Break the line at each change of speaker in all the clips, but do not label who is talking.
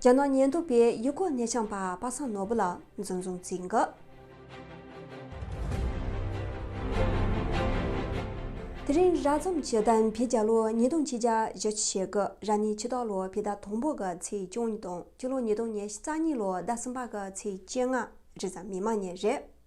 རྒྱ་ནག་ཉེན་རྟོག་པས་ཡུ་གུར་ནས་ཆང་པ་པ་སངས་ནོར་བུ་ལ་འཛིན་བཟུང་བཙུགས་འགོ། དེ་རིང་རགས་ཙམ་གྱི་གདམས་པའི་རྒྱ་ལོ་ཉིས་སྟོང་གཅིག་རྒྱ་བཞི་ཆུ་ཕྱེད་དགུ་ར་ནི་ཕྱི་ཟླ་ལོ་ཕི་ཟླ་དང་པོ་གི་ཚེས་བཅུ་གཉིས་དང་སྤྱི་ལོ་ཉིས་སྟོང་ཉེར་གཉིས་ལོ་ཟླ་གསུམ་པ་གི་ཚེས་བཅོ་ལྔ་རི་ཟ་མི་མ་ཉེ་རེད།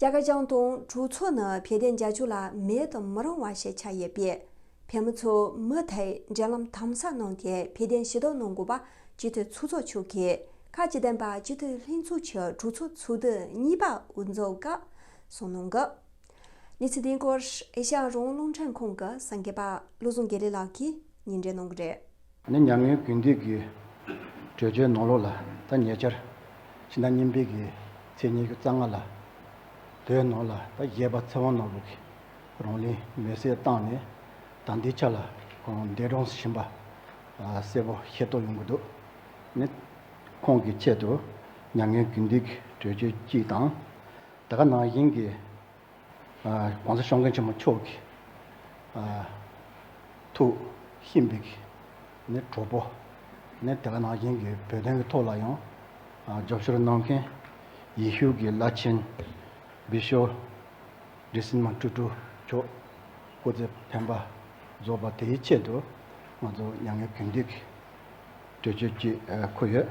རྒྱ་ཁ་བྱང་དང་གྲོགས་ཚོ་ནི་བལ་དན་རྒྱ་ཆུ་ལ་མེད་དུ་མི་རུང་བ་ཞིག་ཆགས་ཡོད་པས། བལ་མོ་ཚོ་མུ་མཐའི་འབྲེལ་ལམ་དམ་ཟབ་གནང་སྟེ་བལ་དན་ཞི་དོགས་གནང་དགོས་པ་སྤྱི་འཐུས་ཚོགས་གཙོ་མཆོག་གིས་
ཁ་ལྕེ་ལྡན་པ་སྤྱི་འཐུས་ལྷན་ཚོགས་ཀྱི་གྲོགས་ཚོ་ཚོགས་དུས་གཉིས་པ་དབུ་འཛོགས་སྐབས་གསུངས་གནང་གི་གནས་ཚུལ་དེའི་སྐོར་ཨེ་ཤ་ཡ་རོང་རླུང་འཕྲིན་ཁང་གི་གསར་འགོད་པ་བློ་བཟང་དགེ་ལེགས་ལགས་ཀྱིས་ཉིན་རེ་གནང་གི་རེད། ནི་མྱ་ངན་གུས་འདུད་ཀྱི་བྲོས་བྱོལ་ནོར་ལུག་ལ་ད་ཉེ་ཆར་ཕྱི་ཟླ་གཉིས་འཕེལ་གྱི་ཚེས་ཉེར་བརྒྱད་རྩ་སྔ་ལ་བོད་ནང་ལ་ད་གཞས་པ་ཚེ་དབང་ནོར་བུ་གིས་རང་གླིང་མེ་བསྲེགས་བཏང་ནས་ད་འདི་ཆ་ལ་གང་བདེ་བགྲང་བཞིན་པ་གསལ་པོ་ཤེས་རྟོགས་ཡོང་གི་འདུག་ནི་ཁོང་གི་ཆེད་དུ་མྱ་ངན་གུས་འདུད་ཀྱི་བྲོས་བྱོལ་གཅིག་དང། ད་ག་ནང་བཞིན་གྱི། ྋགོང་ས ྋཤོང་མཁན་ཆེན་མོ་མཆོག་གི་ཐུགས་ཤིན་པའི་ནི་གྲོགས་པོ་ནི་དེ་ག་ནང་བཞིན་གྱི་བོད་དོན་གྱི་ཐོག་ལ་ཡང་རྒྱབ་སྐྱོར་གནང་མཁན་ཡེ་ཤུ་གྱི་བླ་ཆེན ྋསྤྱི ྋསྐྱིད་སིལ་མ་སྤྲུལ་སྤྲུལ་མཆོག་སྐུ་ཚེ་ཕན་པ་རྫོགས་པ་དེའི་ཆེད་དུ་ང་ཚོ་མྱ་ངན་གུས་འདུད་ཀྱི་གྲོས་ཆོད་ཅིག་འཁུར་ཡོད།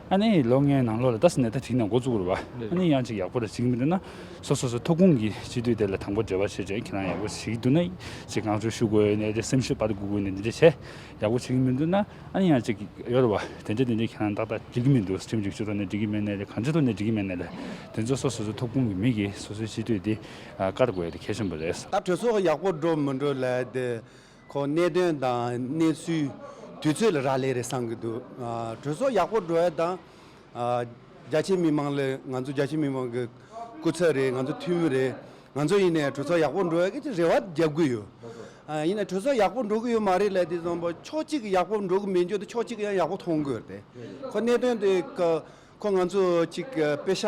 ཨ་ནེ་ཡིས་ལོ་ལྔའི་ནང་ལོ་ལ་རྡ་སའི་ནད་ལྟ་ཁྲིད་ནས་འགོ་བཙུགས་རུ་བ། ཨ་ནེ་ཡང་ཅིག་ཡག་པོ་རེ་བྱེད་ཀྱི་མི་འདུག་ན། སོ་སོ་སོའི་ཐོབ་ཁུངས་ཀྱི་གཅིག་སྡུད་དེ་ལ་དང་པོ་འབྲེལ་བ་བྱེད་ཅིང་ཁྱེད་རང་ཡག་པོ་བྱེད་ཀྱི་འདུག་ན། ཅིག་གང་བྱུང་ཞུ་དགོས་ཡོད་ནས་དེ་སེམས་ཤུགས་སྤར་དགོས་དགོས་ནས་འདི་འདྲ་བྱས། ཡག་པོ་བྱེད་ཀྱི་མི་འདུག་ན། ཨ་ནེ་ཡང་ཅིག་ཡོད་རུ་བ། དེ་འདྲ་དེ་འདྲ་ཁྱེད་རང་ཏག་ཏག་འགྲིག་གི་མི་འདུག་ཁྲིམས་སྒྲིག་ཇུས་ཐོག་ནས་འགྲིག་གི་མེད་ནད་ལས་གང་ཅི་ཐོག་ནས་འགྲིག་གི་མེད་ནད་ལས། དེ་ཚོ་སོ་སོ་སོའི་ཐོབ་ཁུངས་ཀྱི་མི་གིས་སོ་སོའི་གཅིག་སྡུད་དེ་བཀར་དགོས་ཡོད་དེ་གལ་ཆེན་པོ་རེད། ད་གྲོས་ཚོགས་ཡག་པོ་འགྲོ་
མི་འགྲོ་ལས་དེ། ཁོ་གནད་དོན་དང་གནས་ཚུལ་དུས་ཚོད་ལ་རག་ལས་རེད་བསམ་གྱི་འདུག་གྲོས་ཚོགས་ཡག་པོ་འགྲོ་ཡ་དང། རྒྱ་ཆེའི་མི་དམངས་ལ་ང་ཚོ་རྒྱ་ཆེའི་མི་དམངས་ཀྱི་སྐུ་ཚབ་རེད་ང་ཚོ་འཐུས་མི་རེད་ང་ཚོ་ཡིན་ནའི་གྲོས་ཚོགས་ཡག་པོ་འགྲོ་ཡ་གི་རེ་བ་རྒྱབ་གི་ཡོད། ཡིན་ནའི་གྲོས་ཚོགས་ཡག་པོ་འགྲོ་གི་ཡོད་མ་རེད་ལ་དེ་ཕྱོགས་གཅིག་གི་ཡག་པོ་འགྲོ་གི་མི་འགྱུར་ཏེ་ཕྱོགས་གཅིག་གི་ཡང་ཡག་པོ་མཐོང་གི་ཡོད་རེད། ཁོ་གནད་དོན་དེ་ག། ཁོ་ང་ཚོ་གཅིག་པེ་ཤ་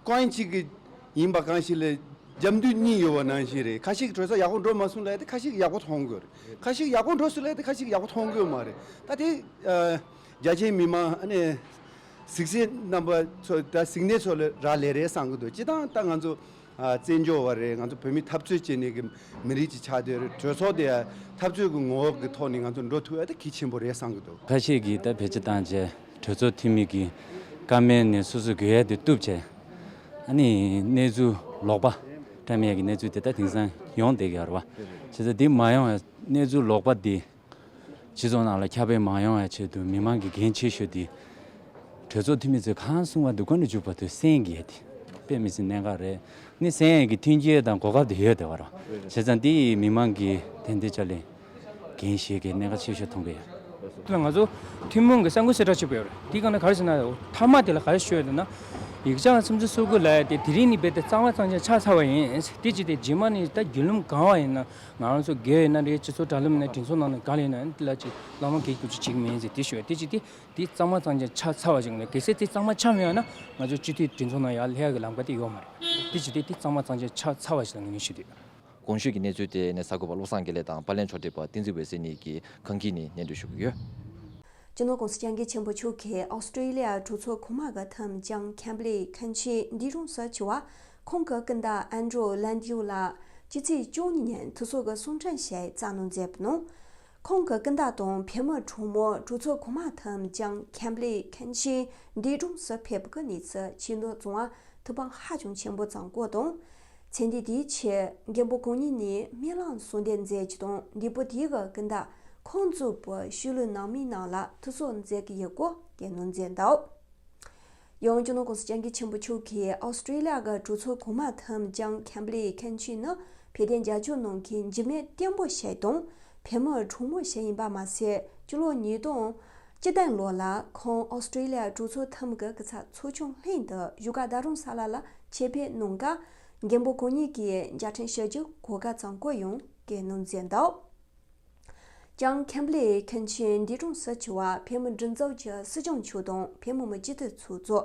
ཀོན་གཅིག་ཡིན་པ་གང་ཞིག་ལ་རྒྱབ་མདུད་གཉིས་ཡོད་པ་ནང་བཞིན་རེད་ཁ་ཞིག་གྲོས་ཚོགས་ཡག་པོ་འགྲོ་མ་སོང་ལ་ཁ་ཞིག་ཡག་པོ་མཐོང་དགོས་རེད་ཁ་ཞིག་ཡག་པོ་འགྲོ་སྲིད་ལ་ཁ་ཞིག་ཡག་པོ་མཐོང་དགོས་མ་རེད་ད་དེ་རྒྱ་ཆེའི་མི་མང་ཨ་ནེ་གཟིགས་ཞེན་རྣམ་པ་ཚོ་ད་གཟིགས་འདས་ཚོ་ལ་རག་ལས་རེད་བསམ་གྱི་འདུག་སྤྱི་སྟངས་ད་ང་ཚོ་བཙན་བྱོལ་བ་རེད་ང་ཚོ་བོད་མི་འཐབ་རྩོད་བྱེད་ནས་གི་མི་རིགས་ཀྱི་ཆགས་སྡོད་རེད་གྲོས་ཚོགས་དེ་ཡང་འཐབ་རྩོད་གི་ངོ་བོ་གི་ཐོག་ནས་ང་ཚོ་འགྲོ་ཐུབ་ཨེ་ད་གི་ཆེན་པོ་རེད་བསམ་གི་འདུག། ཁ་ཤས་ཀྱིས་ད་བེད་སྤྱི་
བཏང་རྗེས་གྲོས་ཚོགས་འཐུས་མི་གི་ཀ་མེད་ནས་སོ་སོ་གི་ཡལ་དེ་གཏུབ་བྱས་ཨ་ནི་གནས་ཚུལ་ལོག་པ་ཀ་མེད་ཀྱི་གནས་ཚུལ་དེ་ད་དེང་སང་ཡོང་བསྡད་ཀྱི་ཨ་རོ་བ། བྱས་ཙང་དེ་མ་ཡོང་བའི་གནས་ཚུལ་ལོག་པ་དེ། སྤྱི་ཚོགས་ནང་ལ་ཁྱབ་སྤེལ་མང་ཡོང་བའི་ཆེད་དུ་མི་མང་གི་འགན་ཆེ་ཤོས་དེ། གྲོས་ཚོགས་འཐུས་མི་ཚོས་གང་གསུང་བ་དེ་བཀོད་འདོམས་བྱུག་པ་དུས་སེང་གེ་དེ་དཔེ་མི་སྲིད་གནད་འགག་རེད་ནི་སེང་གེ་མཐུན་རྐྱེན་དང་གོ་སྐབས་དེ་ཡོད་དེ་བ་ར་བྱས་ཙང་དེ་ཡིས་མི་མང་གི་ཐན་ལྟའི་ལྕགས་ལས་འགན་བཞེས་དགའི་གནད་འགག་ཆེ་ཤོས་མཐོང་གི་ཡོད། ང་ཚོ་
ཐུན་མོང་གི་ས་འགུལ་སེ་གྲགས་ཆེ་པོ་ཡོད་རེད་དེ་གང་ནས་གར་ཕྱིན་ན་མཐའ་མ་དེ་ལ་གར་ཤོད་ཡོད་ན། ཡིག་ཆ་ལ་སེམས་ཚོར་སོགས་དགོས་ལ་ཡ་དེ་དེ་རིང་ནས་རྦད་དེ་གཙང་མ་གཙང་ཆ་ཆགས་ཚར་བ་ཡིན་དེ་བྱས་ཏེ་རྗེས་མ་ནས་ད་རྒྱུད་ལུམས་གང་བ་ཡིན་ན་ང་རང་ཚོ་དགེ་བའི་མནའ་འབྲེལ་སྤྱི་ཚོགས་དྲ་ལམ་ནས་དྲིན་གཟོ་གནང་ནས་ག་ལེ་ནའི་ཏི་ལ་ཅིག་བླ་མ་གེགས་གྱུར་ཅིག་བྱེད་མིན་ཟེར་དེ་ཞུ་བ་དེ་ཅི་སྟེ་དེ་གཙང་མ་གཙང་ཅན་ཆ་ཚ་བ་ཞིག་མིན་གལ་སྲིད་དེ་གཙང་མ་ཆ་མེད་བ་ན་ང་ཚོས་སྤྱི་འཐུས་དྲིན་གཟོ་གནང་ཡག་ལྷད་ཡག་གི་ལམ་ཀ་དེ་ཡོག་མ་རེད་དེ་ཅི་སྟེ་དེ་གཙང་མ་གཙང་ཅན་ཆ་ཚ་བ་ཞིག་ལ་ངེས་ངེས་ཞུ་འདོད། གོང་ཞུས་ཀྱི་གནས་ཚུལ་
དེ་ནས་གསར་འགོད་པ་བློ་བཟང་དགེ་ལེགས་དང་པར་ལེན་ཕྱོགས་བསྒྲིགས་པ་བསྟན་འཛིན་འོད་ཟེར་གཉིས་ཀྱིས་གང་གིས་ནི་ཉན་འདོད་ཞུ་གི་ཡོད། སྤྱི་ནོར་
ཀུང་སི་སྤྱང་ཀི་ཆེན་པོ་ཕྱུག་གིས་ཨོ་སི་ཀྲི་ལི་ཡ་གྲོས་ཚོགས་གོང་མ་ག་ཐམ་ཅང་ཁན་བྷི་ལེ་ཁན་ཆི་འདི་རུང་ས་ཆི་བ། ཁོང་གི་སྐུ་ཟླ་ཨན་ཀྲོ་ལན་དབྱུ་ལགས་ཀྱི་ཚེས་བཅུ་གཉིས་ཉིན་དུ་ཚོགས་ཀྱི་གསུང་འཕྲིན་ཞིག་བསྩལ་གནང་མཛད་པ་ནང། ཁོང་གི་སྐུ་ཟླ་དང་བུ་མོ་གྲོགས་མོ་གྲོས་ཚོགས་གོང་མ་ཐུམ་ཅང་ཁན་པླེ་ཁན་ཤིན་སྡེ་གྲོང་སུ་ཕེབས་པ་ཀྱི་གནས་ཚུལ་ཕྱིས་འདོན་བཟང་བ་ཐུབ་པ་ཧ་ཅང་ཆེན་པོ་བཟང་བཀོད་དང། མཚན་ལྡན་དེའི་ཕྱིར་རྒན་པོ་གང་ཉིད་ནས་སྨིན་བླངས་གསུང་འདེབས་མཛད་རྒྱུ་དང་འདས་པོ་དེའི་གི་སྐུ་ཟླ་ཁོང་གཙོས་པའི་ཤུལ་ལུས་ནང་མི་རྣམས་ལ་ཐུགས་གསོ་མཛད་ཀྱི་ཡོད་སྐོར་སྐད་གནང་མཛད་འདུག། ཡང་ཅུ་ནོ་ཀོ་སི་སྤྱང་ཀི་ཆེན་པོ་མཆོག་གིས་ཨོ་སི་ཀྲི་ལི་ཡ་དགའ་གྲུ་ཚོ་གོང་མ་ཐམས་ཅང་ཁེམ་པི་ལིའི་ཁེན་ཆི་ནི་བལ་གདན་རྒྱ་ཆོ་ནང་གི་འཇིབ་མེད་སྐྱེན་པོ་ཞེས་དང་བལ་མོ་གྲུང་མོ་ཞེས་ཡིན་པ་མ་ཟད་ཅུ་ལོ་ཉིས་སྟོང་ཅི་བདན་ལོ་ལ་ཁོང་ཨོ་སི་ཀྲི་ལི་ཡ་གྲུ་ཚོ་ཐམ་ག་གི་ཚ་ཚོ་ཆུང་ལྷན་དུ་བཞུགས་སྒར་རྡ་རུང་ས་ལ་ལ་ཆེད་ཕེབས་གནང་སྐབས་རྒན་པོ་གོ་གཉིས་ཀྱིས་འཇའ་འཕྲེང་ཞལ་གྱི་གོ་ཁ་ཚང་བཀོད་ཡོང་གི་གནང་མཛད་འདུག། ཅང་ཁེམ་པོ་ལིས་མཁན་ཆེན་འདི་གྲོང་གསར་ཆེ་བ་བྷེ་མོ་འབྲི་འཛོམས་ཀྱི་སྲིད་སྐྱོང་མཆོག་དང་བྷེ་མོ་མི་སྤྱི་འཐུས་ཚོགས་གཙོ།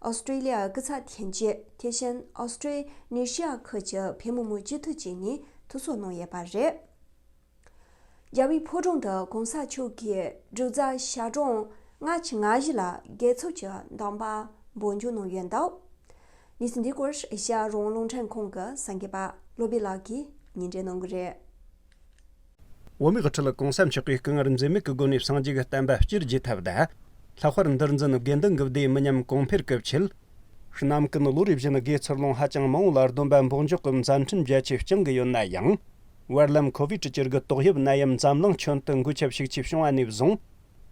Australia། སྐུ་ཚབ་ཐན་ཅི་ཐེ་ཧྲན Austranesia ཁུལ་གྱི་བྷེ་མོ་མི་སྤྱི་འཐུས་བཅས་གཉིས་ཐུགས་གསོ་གནང་ཡོད་པ་རེད། རྒྱ་བྷེའི་ཕོ་གྲོང་དུ་གོང་ས་མཆོག་གི་འབྲུག་རྫ་ཤར་གྲོང་སྔ་ཕྱི་ང་བཞི་ལ་རྒྱལ་ཚོགས་ཀྱི་གདམས་པ་འབོད་འཇུག་གནང་ཡོད་འདུག་གནས་ཚུལ་འདི་སྐོར་ཤར་རོང་རླུང་འཕྲིན་ཁང་གི་ས་འགན་པ་བློ་བདེ་ལགས་ཀྱིས་ཉིན་རེ་གནང་གི་རེད། འོ་མའི་ཁྲི་ལ་གང་བསམ་ཆགས་པའི་སྐུ་ངར་འཛིན་མེད་
ཀྱི་སྒོ་ནས་སངས་རྒྱས་ཀྱི་བསྟན་པ་སྤྱིར་རྒྱས་ཐབས་གདའ། ལྷག་པར་འདིར་འཛིན་དགེ་འདུན་གྱི་སྡེ་མི་ཉམས་གོང་འཕེལ་སྐབས་ཆེད། གནམ་སྐུ་ནི་ལོ་རེ་བཞིན་དགེ་ཚུར་ལོངས་ཧ་ཅང་མང་བོ་ལ་སྡོམ་པ་འབོག་འཇོག་གི་མཛའ་མཐུན་རྒྱ་ཆེ་བསྐྱང་གི་ཡོད་ན་ཡང། བར་ལམ་ཁོ་བོས་གྲི་གྱར་གྱི་ཏོག་དབྱིབས་ནད་ཡམས་འཛམ་གླིང་ཁྱོན་དུ་འགོས་ཁྱབ་ཤུགས་ཆེ་བྱུང་བ་ནས་བཟུང།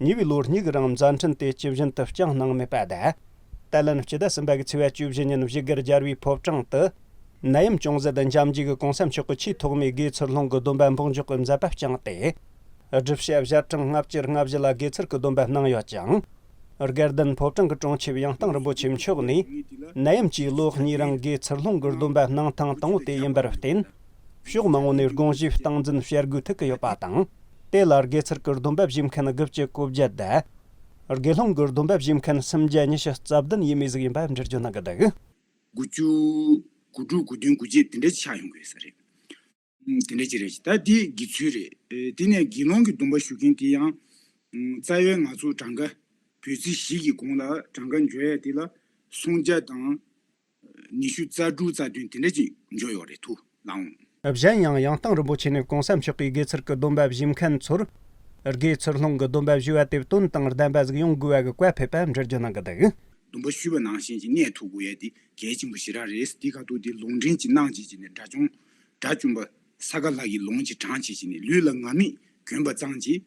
ཉེ་བའི་ལོ་གཉིས་ཀྱི་རིང་མཛའ་འཕྲིན་དེ་ཇི་བཞིན་དུ་རྐྱང་གནང་མེད་པ་དང། ཏཱ་ལན་སྤྱི་ཟླ་གསུམ་པ་གྱི་ཚེས་བརྒྱད་ཅུ་བཞི་ཉིན་བཞི་གར་སྦྱར་བའི་ཕོབ་གྲངས་དུ། ནད་ཡམས་ཅུང་ཟད་དུ་འཇམ་རྒྱུ་གི་གོང་ས་མཆོག་གི་ཆེས་ཐོག་མའི་དགེ་ཚུལ་སློང་གི་སྡོམ་པ་འབོག་འཇོག་གི་མཛད་པ་བསྐྱངས་ཏེ། སྒྲུབ་བྱེད་བཞི་གྲངས་ལྔ་བཅུར་ལྔ་བཞི་ལ་དགེ་ཚུལ་གྱི་སྡོམ་པ་གནང་ཡོད་ཅིང། སྒེར་བདུན་ཕོབ་གྲངས་ཀྱི་གྲོང་ཆེ་བའི་ཡང་གཏང་རིན་པོ་ཆེ་མཆོག་ནས། ནད་ཡམས་ཀྱི་ལོ་གཉིས་རིང་དགེ་ཚུལ་སློང་གི་སྡོམ་པ་གནང་ཐེངས་དང་པོ་དེ་ཡིན་པར་བརྟེན། ཕྱོགས་མང་པོ་ནས་དགོངས་གཞི་སྟངས་འཛིན་བྱ་དགོས་ཐུག་གི་ཡོད་པ་དང། དེ་ལ་དགེ་ཚུལ་གྱི་སྡོམ་པ་བཞེས་མཁན་དགུ་བཅུ་གོ་བརྒྱད་དེ། དགེ་སློང་གི་སྡོམ་པ་བཞེས་མཁན་སུམ་བརྒྱ་ཉི་ཤུ་རྩ་བདུན་ཡས་མས་གཟུགས་ཡིན་པ་འབྲེལ་བརྗོད་གནང་གི་འདུག། དགུ་བཅུ།
དགུ་དྲུག་དགུ་བདུན་དགུ་བརྒྱད་དེ་འདྲ་ཆགས་ཡོང་གི་ཡོད་ས་རེད། དེ་འདྲ་ཅིག་རེད། ད་དེ་དགེ་ཚུལ་རེད། དེ་ནས་དགེ་སློང་གི་སྡོམ་པ་ཞུ་མཁན་དེ་ཡང། རྩ་བའི་ང་ཚོ་གྲངས་ཀ་བོད་ཚིག་བཞི་གི་གོང་ལ་གྲངས་ཀ་འཇོག་ཡ་དེ་ལ་སུམ་བརྒྱ་དང། ཉི་ཤུ་རྩ་དྲུག་རྩ་བདུན་དེ་འདྲ་ཅིག་འཇོག་ཡོད་རེད་ཐུ་ལང། གཞན་ཡང་ཡང་
བསྟང་རིན་པོ་ཆེ་ནས་གོང་ས་མཆོག་གིས་དགེ་ཚུལ་གྱི་སྡོམ་པ་བཞེས་མཁན་ཚོར། དགེ་ཚུལ་སློང་གི་སྡོམ་པ་བཞེས་པ་དེ་བསྟུན་དང་ལྡན་པ་གཟིགས་ཡོང་དགོས་པ་གི་བཀའ་ཕེབས་པ་འདྲར་བརྗོད་གནང་གི་འདུག། སྡོམ་པ་ཞུས་པ་ནང་
བཞིན་གྱི་གནས་ཐུག་དགོས་ཡ་དེ་གལ་ཆེན་པོ་ཞེ་དྲག་རེད་དེ་ཁ་ཐུག་དེ་ལུང་འདྲེན་གྱིས་གནང་བྱེད་ཅིག་ནས་དགྲ་བཅོམ། དགྲ་བཅོམ་པ། ས་ག་ལྷ་གིས་ལོངས་ཀྱིས་དྲངས་བྱེད་ཅིག་ནས་ལུས་ལ་ང་མིག་གྱོན་པ་ཙང་གྱིས།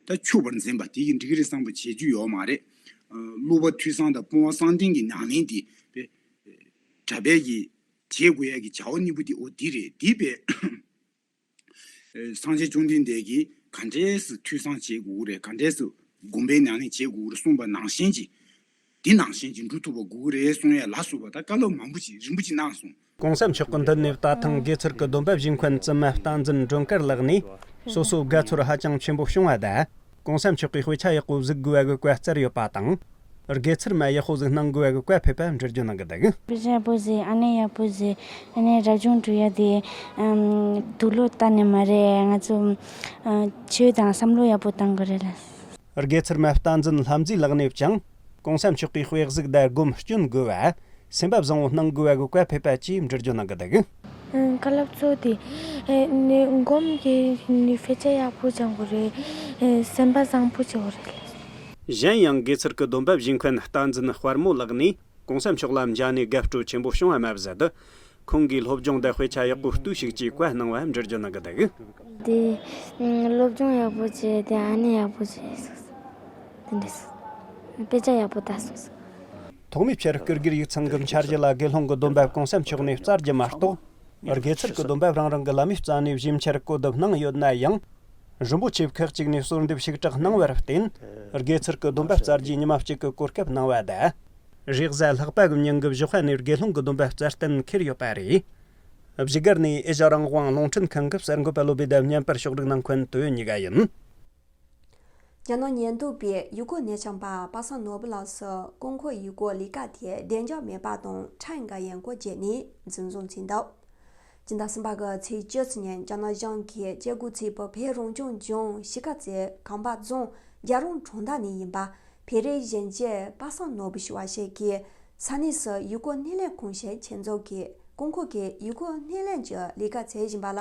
ད་ཆུ་བར་འཛིན་པ་དེ་གི་འགྲིག་རེད་བསམ་པ་བྱེད་རྒྱུ་ཡོག་མ་རེད། གླུ་བ་འཐུས་བཟང་དང་སྤོང་བ་བསང་ལྡན་གི་ཉང་ལེན་དེ་བས། དྲ་འབད་ཀྱི་བྱེད་དགོས་ཡ་གི་བྱ་བ་གཉིས་པོ་དེ་འོ་དེ་རེད་དེ་བས། བསང་ཆེན་བཅོམ་ལྡན་འདས་ཀྱིས་ག་འདྲས་སུ་འཐུས་བཟང་བྱེད་དགོས་རེད་ག་འདྲས་སུ་སྒོམ་པའི་ཉང་ལེན་བྱེད་དགོས་རེད་གསུངས་པ་ནང་བཞིན་གྱི། འདི་ནང་བཞིན་གྱི་འབྲུ་ཐུག་པ་དགུ་དགུ་རེ་སོང་ཡས་ལ་བསུ་བ་དང་བཀའ་སློབ་མང་པོ་ཅིག་རིན་པོ་ཆེ་གནང་སོང། གོང་ས་མཆོག་གི་འདི་
ནས་ད་ཐང་དགེ་ཚུལ་གྱི་སྡོམ་པ་བཞིན་འཁོན་བཙུན་མ་བསྟན་འཛིན་སྒྲོན་དཀར་ལགས་ནས་སོ་སོའི་དགའ་ཚོར་ཧ་ཅང་ཆེན་པོ་བྱུང་བ་དང་གོང་ས་མཆོག་གི་དཔེ་ཆ་ཡག་པོ་གཟིགས་དགོས་བ་གི་བཀའ་བསྩལ་ཡོད་པ་དང། དགེ་ཚུལ་མ་ཡག་པོ་གཟིགས་གནང་དགོས་བ་གི་བཀའ་ཕེབས་པ་འབྲེལ་བརྗོད་གནང་གི་འདུག། དཔེ་ཆ་ཡག་པོ་གཟིགས་ཨ་
ནེ་ཡག་པོ་གཟིགས་ཨ་ནེ་རབ་བྱུང་གྲུ་ཡ་དེ་དུག་ལོ་ལྟ་ནི་མ་རེད་ང་ཚོ་ཆོས་དང་བསམ་བློ་ཡག་པོ་གཏང་གི་རེད་ལ། དགེ་ཚུལ་མ་
རྟ་འཛིན་ལྷ་མཛེས་ལགས་ནས་ཀྱང། གོང་ས་མཆོག་གི་དཔེ་གཟིགས་བརྡ་སྒོམ་སྐྱོན་དགོས་པ། སེམས་པ་བཟང་བོ་སྣང་དགོས་བ་གོ་བཀའ་ཕེབས་པ་ཅེས་འབྲི་རྒྱུ་གནང་གི་འདུག། བཀའ་སློབ་
གཙོ་དེ་སྒོམ་གྱི་དཔེ་ཆ་ཡག་པོ་སྦྱང་གི་རེད། སེམས་པ་བཟང་བོ་བྱེད་གི་རེད། གཞན་ཡང་
དགེ་ཚུལ་གྱི་སྡོམ་པ་བཞིན་མཁན་རྟ་འཛིན་དཔར་མོ་ལགས་ནས་གོང་ས་མཆོག་ལ་མཇལ་ནས་དགའ་སྤྲོ་ཆེན་པོ་བྱུང་བ་མ་ཟད་དུ། ཁོང་གིས་སློབ་སྦྱོང་དེ་དཔེ་ཆ་ཡག་པོ་བཏུས་ཤིག་ཅེས་བཀའ་གནང་བ་འབྲི་རྒྱུ་གནང་གི་འདུག། དེ་
སློབ་སྦྱོང་ཡག་པོ་བྱས་དེ་ཨ་ནེ་ཡག་པོ་བྱས་སོགས་དེ་འདྲ་སོགས་དཔེ་ཆ་ཡག་པོ་བལྟ་སོགས་སོགས། ཐོག་མའི་
ཕྱིར་བསྐུར་དགེར་ཡིག་ཚང་གི་འཆར་གཞི་ལ་དགེ་སློང་གི་སྡོམ་པ་གོང་ས་མཆོག་ནས་བསྩལ་རྒྱུ་མ་གཏོགས། སྔར་གེ་སར་གྱི་སྡོམ་པ་རང་རང་གི་བླ་མའི་རྩ་ནས་བཞི་འཆར་བཀོད་སྡོམ་གནང་ཡོད་ན་ཡང། རིན་པོ་ཆེ་ཁག་ཅིག་ནས་གསོལ་འདེབས་ཞིག་གྲགས་གནང་བར་བརྟེན། གེ་སར་གྱི་སྡོམ་པ་བསྩལ་རྗེས་ཉི་མ་གཅིག་གི་གོ་སྐབས་གནང་བ་ད་རེས་གཟའ་ལྷག་པ་གི་ཉིན་གྱི་བཞི་བྷ་ནས་དགེ་སློང་གི་སྡོམ་པ་བསྩལ་གཏན་འཁེལ་ཡོད་པ་རེད། བཞི་སྒར་ནས་ཨེ་ཤ་རང་དབང་རླུང་འཕྲིན་ཁང་གི་གསར་འགོད་པ་བློ་བདེ་ལྡེབས་བརྙན་པར་ཕྱོགས་སྒྲིག་གནང་མཁན་དུ་ཉི་ག་ཡིན། རྒྱ་ནག་ཉལ་འདུག་པའི་ཡུལ་སྐོར་གནས་ཆང་པ་པ་སངས་ནོར་བུ་ལགས་སུ་ཀོང་ཁོ་ཡུལ་སྐོར་ལས་ཀ་དེ་བདེ་འཇགས་མེད་པ་དང་ཁྲེང་ཀ་ཡན་སྐོར་བརྗེས་ནས་
འཛིན་བཟུང་བྱས་འདུག་སྤྱི་ཟླ་གསུམ་པ་གི་ཚེས་བཅུ་ཚེས་ཉིན་རྒྱ་ནག་གཞུང་གིས་བཅད་བགོས་ཚེ་བོད་བོད་རང་སྐྱོང་ལྗོངས་གཞིས་ཀ་རྩེ་ཁམས་པ་རྫོང་རྒྱ་རོང་གྲོང་རྡལ་ནས་ཡིན་པ་བེ་རི་གཞན་བཅས་པ་སངས་ནོར་བུ་ཞུ་བ་ཞིག་གིས་ས་གནས་སུ་ཡུལ་སྐོར་སྣེ་ལེན་གང་བྱས་ཆེད་འཛུགས་ཀྱིས་ཀོང་ཁོ་གི་ཡུལ་སྐོར་སྣེ་ལེན་གྱི་ལས་ཀ་བྱེད་བཞིན་པ་ལ་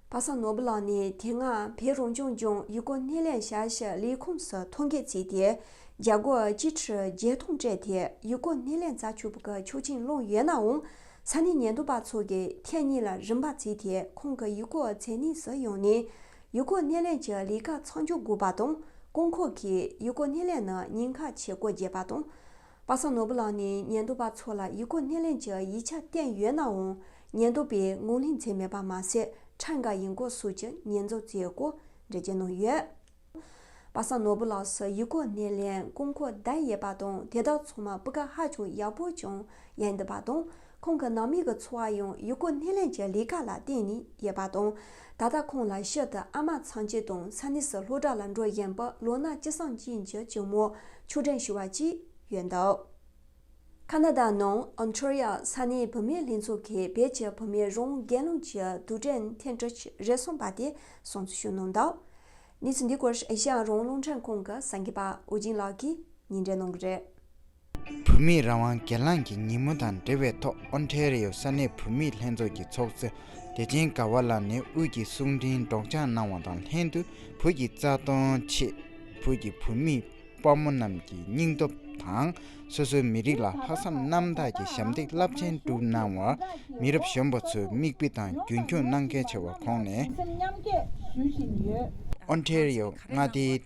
པ་སངས་ནོར་བུ་ལགས་ནས་དེ་སྔ་བོད་རང་སྐྱོང་ལྗོངས་ཡུལ་སྐོར་སྣེ་ལེན་བྱ་གཞག་ལས་ཁུངས་སུ་ཐོ་འགོད་བྱས་ཏེ་རྒྱ་སྒོར་གཅིག་ཁྲི་བརྒྱད་སྟོང་སྤྲད་དེ་ཡུལ་སྐོར་སྣེ་ལེན་རྩྭ་ཕྱུགས་པུ་ཀ་ཆོག་ཆིངས་བླངས་ཡོད་ནའང་ས་གནས་ཉེན་རྟོག་པ་ཚོ་གིས་ཐེངས་གཉིས་ལ་རིམ་པ་བརྩིས་ཏེ་ཁོང་གི་ཡུལ་སྐོར་མཚན་གནས་སུ་ཡོང་ནས་ཡུལ་སྐོར་སྣེ་ལེན་གྱི་ལས་ཀ་ཚང་འཇོག་དགོས་པ་དང་རྐང་འཁོར་གྱིས་ཡུལ་སྐོར་སྣེ་ལེན་ནང་ཉིན་ཁ་ཕྱེད་སྒོར་བརྒྱད་པ་དང། པ་སངས་ནོར་བུ་ལགས་ནས་ཉན་རྡོ་པ་ཚོ་ལ་ཡིག་གོ་གནས་ལེན་གྱི་ཡིག་ཆ་བསྟན་ཡོད་ནའང་ཉན་རྡོ་པས་ངོ་ལྷིང་འཚེ་མེད་པར་མ་ཟད་ཁྲ་འགའ་ཡིན་གོ་སུ་ཀྱི་ཉན་རྫོགས་རྩེའི་སྐོར་འབྲེལ་བྱས་གནང་ཡོད། པ་སངས་ནོར་བུ་ལགས་སུ་ཡིག་གོ་གནས་ལེན་སྐོར་མཁོ་བསྟན་ཡས་པ་དང་དེ་དག་ཚོ་མ་སྤུ་ཀ་ཧ་ཅང་ཡག་པོ་ཅང་ཡན་འདི་པ་དང་ཁོང་གི་ནང་མི་གི་འཚོ་བ་ཡང་ཡུལ་སྐོར་སྣེ་ལེན་གྱི་ལས་ཀ་ལ་བརྟེན་ནས་ཡོད་པ་དང། ད་ལྟ་ཁོང་ལ་ཤི་སྟེ་ཨ་མ་ཚང་ཆེ་དང་ས་གནས་སུ་སློབ་གྲྭ་ལ་འགྲོ་བཞིན་པའི་ལོ་ན་ཅི་སངས་ཅན་གྱི་གཅུང་མོ་ཆུ་སྒྲོན་ཞུ་བ་བཅས་ཡོད་འདུག་ཁ་ན་ད་ནང Ontario ས་གནས་བུད་མེད་ལྷན་ཚོགས་ཀྱི་བེད་སྤྱོད་བུད་མེད་རང་འགན་ལུང་གྱི་དུ་ཀྲེན་ཐེན་ཀྲིས་རེ་ཟུང་པ་དེ་གསུང་ཆོས་ཞུས་གནང་འདུག་གནས་ཚུལ་འདི་སྐོར་ཨེ་ཤ་ཡ་རང་སློང་ཁྲན་ཁང་གི་གསར་འགོད་པ་ཨོ་ཇིན་
ལགས་ཀྱིས་ཉིན་རེ་གནང་གི་རེད། བུད་མེད་རང་དབང་སྒེར་ལངས་ཀྱི་ཉིན་མོ་དང་འབྲེལ་བའི་ཐོག་ཨོན་ཐའེ་རེའོ་ས་གནས་བུད་མེད་ལྷན་ཚོགས་ཀྱི་ཚོགས་གཙོ་བདེ་ཆེན་དགའ་བ་ལགས་ནས་དབུས་ཀྱི་གསུང་འཕྲིན་སྒྲོག་སྦྱངས་གནང་བ་དང་ལྷན་དུ་བོད་ཀྱི་རྩ་དོན་ཆེད་བོད་ཀྱི་བུད་མེད་དཔའ་མོ་རྣམས་ཀྱི་སྙིང་སྟོབས་དང་སོ་སོའི་མི་རིགས་ལ་ལྷག་བསམ་རྣམ་དག་གི་ཞབས་འདེགས་རླབས་ཆེན་བསྒྲུབས་གནང་བར་མི་རབས་གཞོན་པ་ཚོས་མིག་དཔེ་དང་རྒྱུན་འཁྱོངས་གནང་གལ་ཆེ་བ་ཁོང་ནས། ཨོན་ཐའེ་རེའོ་མངའ་སྡེའི།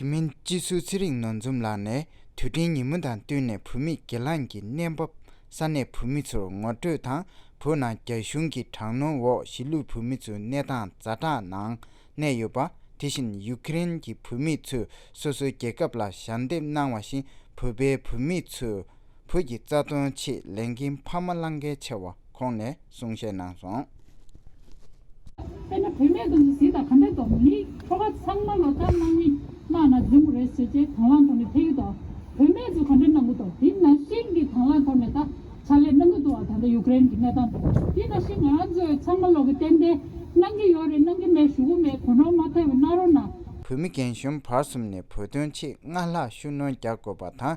དེ་མིན་
སྤྱི་ཟུར་ཚེ་རིང་ནོར་འཛོམས་ལགས་ནས་དུས་དྲན་ཉིན་མོ་དང་བསྟུན་ནས་བུད་མེད་སྒེར་ལངས་ཀྱི་གནས་བབ་ས་གནས་བུད་མེད་ཚོར་ངོ་སྤྲོད་དང་བོད་ནང་རྒྱ་གཞུང་གི་དྲག་གནོན་འོག་གཞིས་ལུས་བུད་མེད་ཚོའི་གནས་སྟངས་རྫ་དྲག་ནང་གནས་ཡོད་པ་དེ་བཞིན་ཡུག་ཀེ་རེན་གྱི་བུད་མེད་ཚོས་སོ་སོའི་རྒྱལ་ཁབ་ལ་ཞལ་འདེབས་གནང་བ་བཞིན་བོད་པའི་བུད་མེད་ཚོས་བོད་ཀྱི་རྩ་དོན་ཆེད་ལས་འགན་འཕར་མ་བླངས་གལ་ཆེ་བ་ཁོང་ནས། གསུང་བཤད་གནང་སོང། དཔེར་
ན་བུད་མེད་དུ་ནི་གཟི་དང་གམ་པའི་མདོག་མི་ནི་ཁྱོ་ག་ཚང་མ་ལོ་ལྟར་སྣང་མི་སྣང་ན་རྫིང་བུ་རེད་ཟེར་བྱས་དང་བླངས་ཐོག་ནས་འཕེལ་ཡུལ་དང། བུད་མེད་དུ་གམ་པའི་སྣང་བུ་དང་དེ་ན་ཤིང་གི་དང་བླངས་ཐོག་ནས་ད་ཆ་ལས་སྣང་བུ་དུ་བ་ད་ལྟ་ཡུག་ཀེ་རེན་གྱི་གནས་སྟངས་དང་དེ་ན་ཤིང་ང་རང་ཚོས་ཚང་མ་ལོག་གི་ཏན་ཏན་སྣང་གི་ཡོད་རེད་སྣང་གི་མེད་ཞུ་གི་མེད་གོ་ནོར་མ་ཐལ་བའི་སྣང་རོ་ན། བུད་མེད་རྒན་གཞོན་
བར་གསུམ་ནས་བོད་དོན་ཆེད་སྔར་ལྷག་ཤུགས་སྣོན་རྒྱག་དགོས་པ་དང་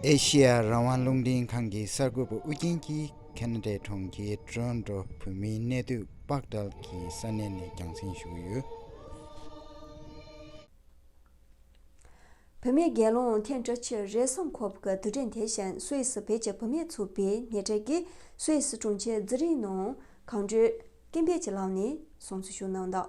ཨེ་ཤེ་ཡ་རང་དབང་རླུང་འཕྲིན་ཁང་གི་གསར་འགོད་པ་ཨུ་རྒྱན་གྱིས་ཁེ་ན་ཏྲེ་གྲོང་ཁྱེར་ཀྲོན་ཀྲོ་བོད་མིའི་གནས་སྡོད་དཔག་བསྐྲལ་གྱི་ས་གནས་ནས་རྒྱང་སྲིང་ཞུ་གི་ཡོད།
བུད་མེད་རྒན་ལོང་ཐེན་ཀྲི་ཆི་རེ་སོན་ཁོབ་ཀི་དུས་དྲན་དེ་བཞིན་སུད་སི་བེད་སྤྱད་བུད་མེད་ཚུད་པའི་ཉེ་འབྲེལ་གྱིས་སུད་སི་དྲུང་ཆེ་ཛི་རིན་ནོ་གང་བཀྲོལ་སྐྱེ་འཕེལ་གྱི་ལག་ནས་བཟུང་བརྩི་ཞུ་གནང་དང།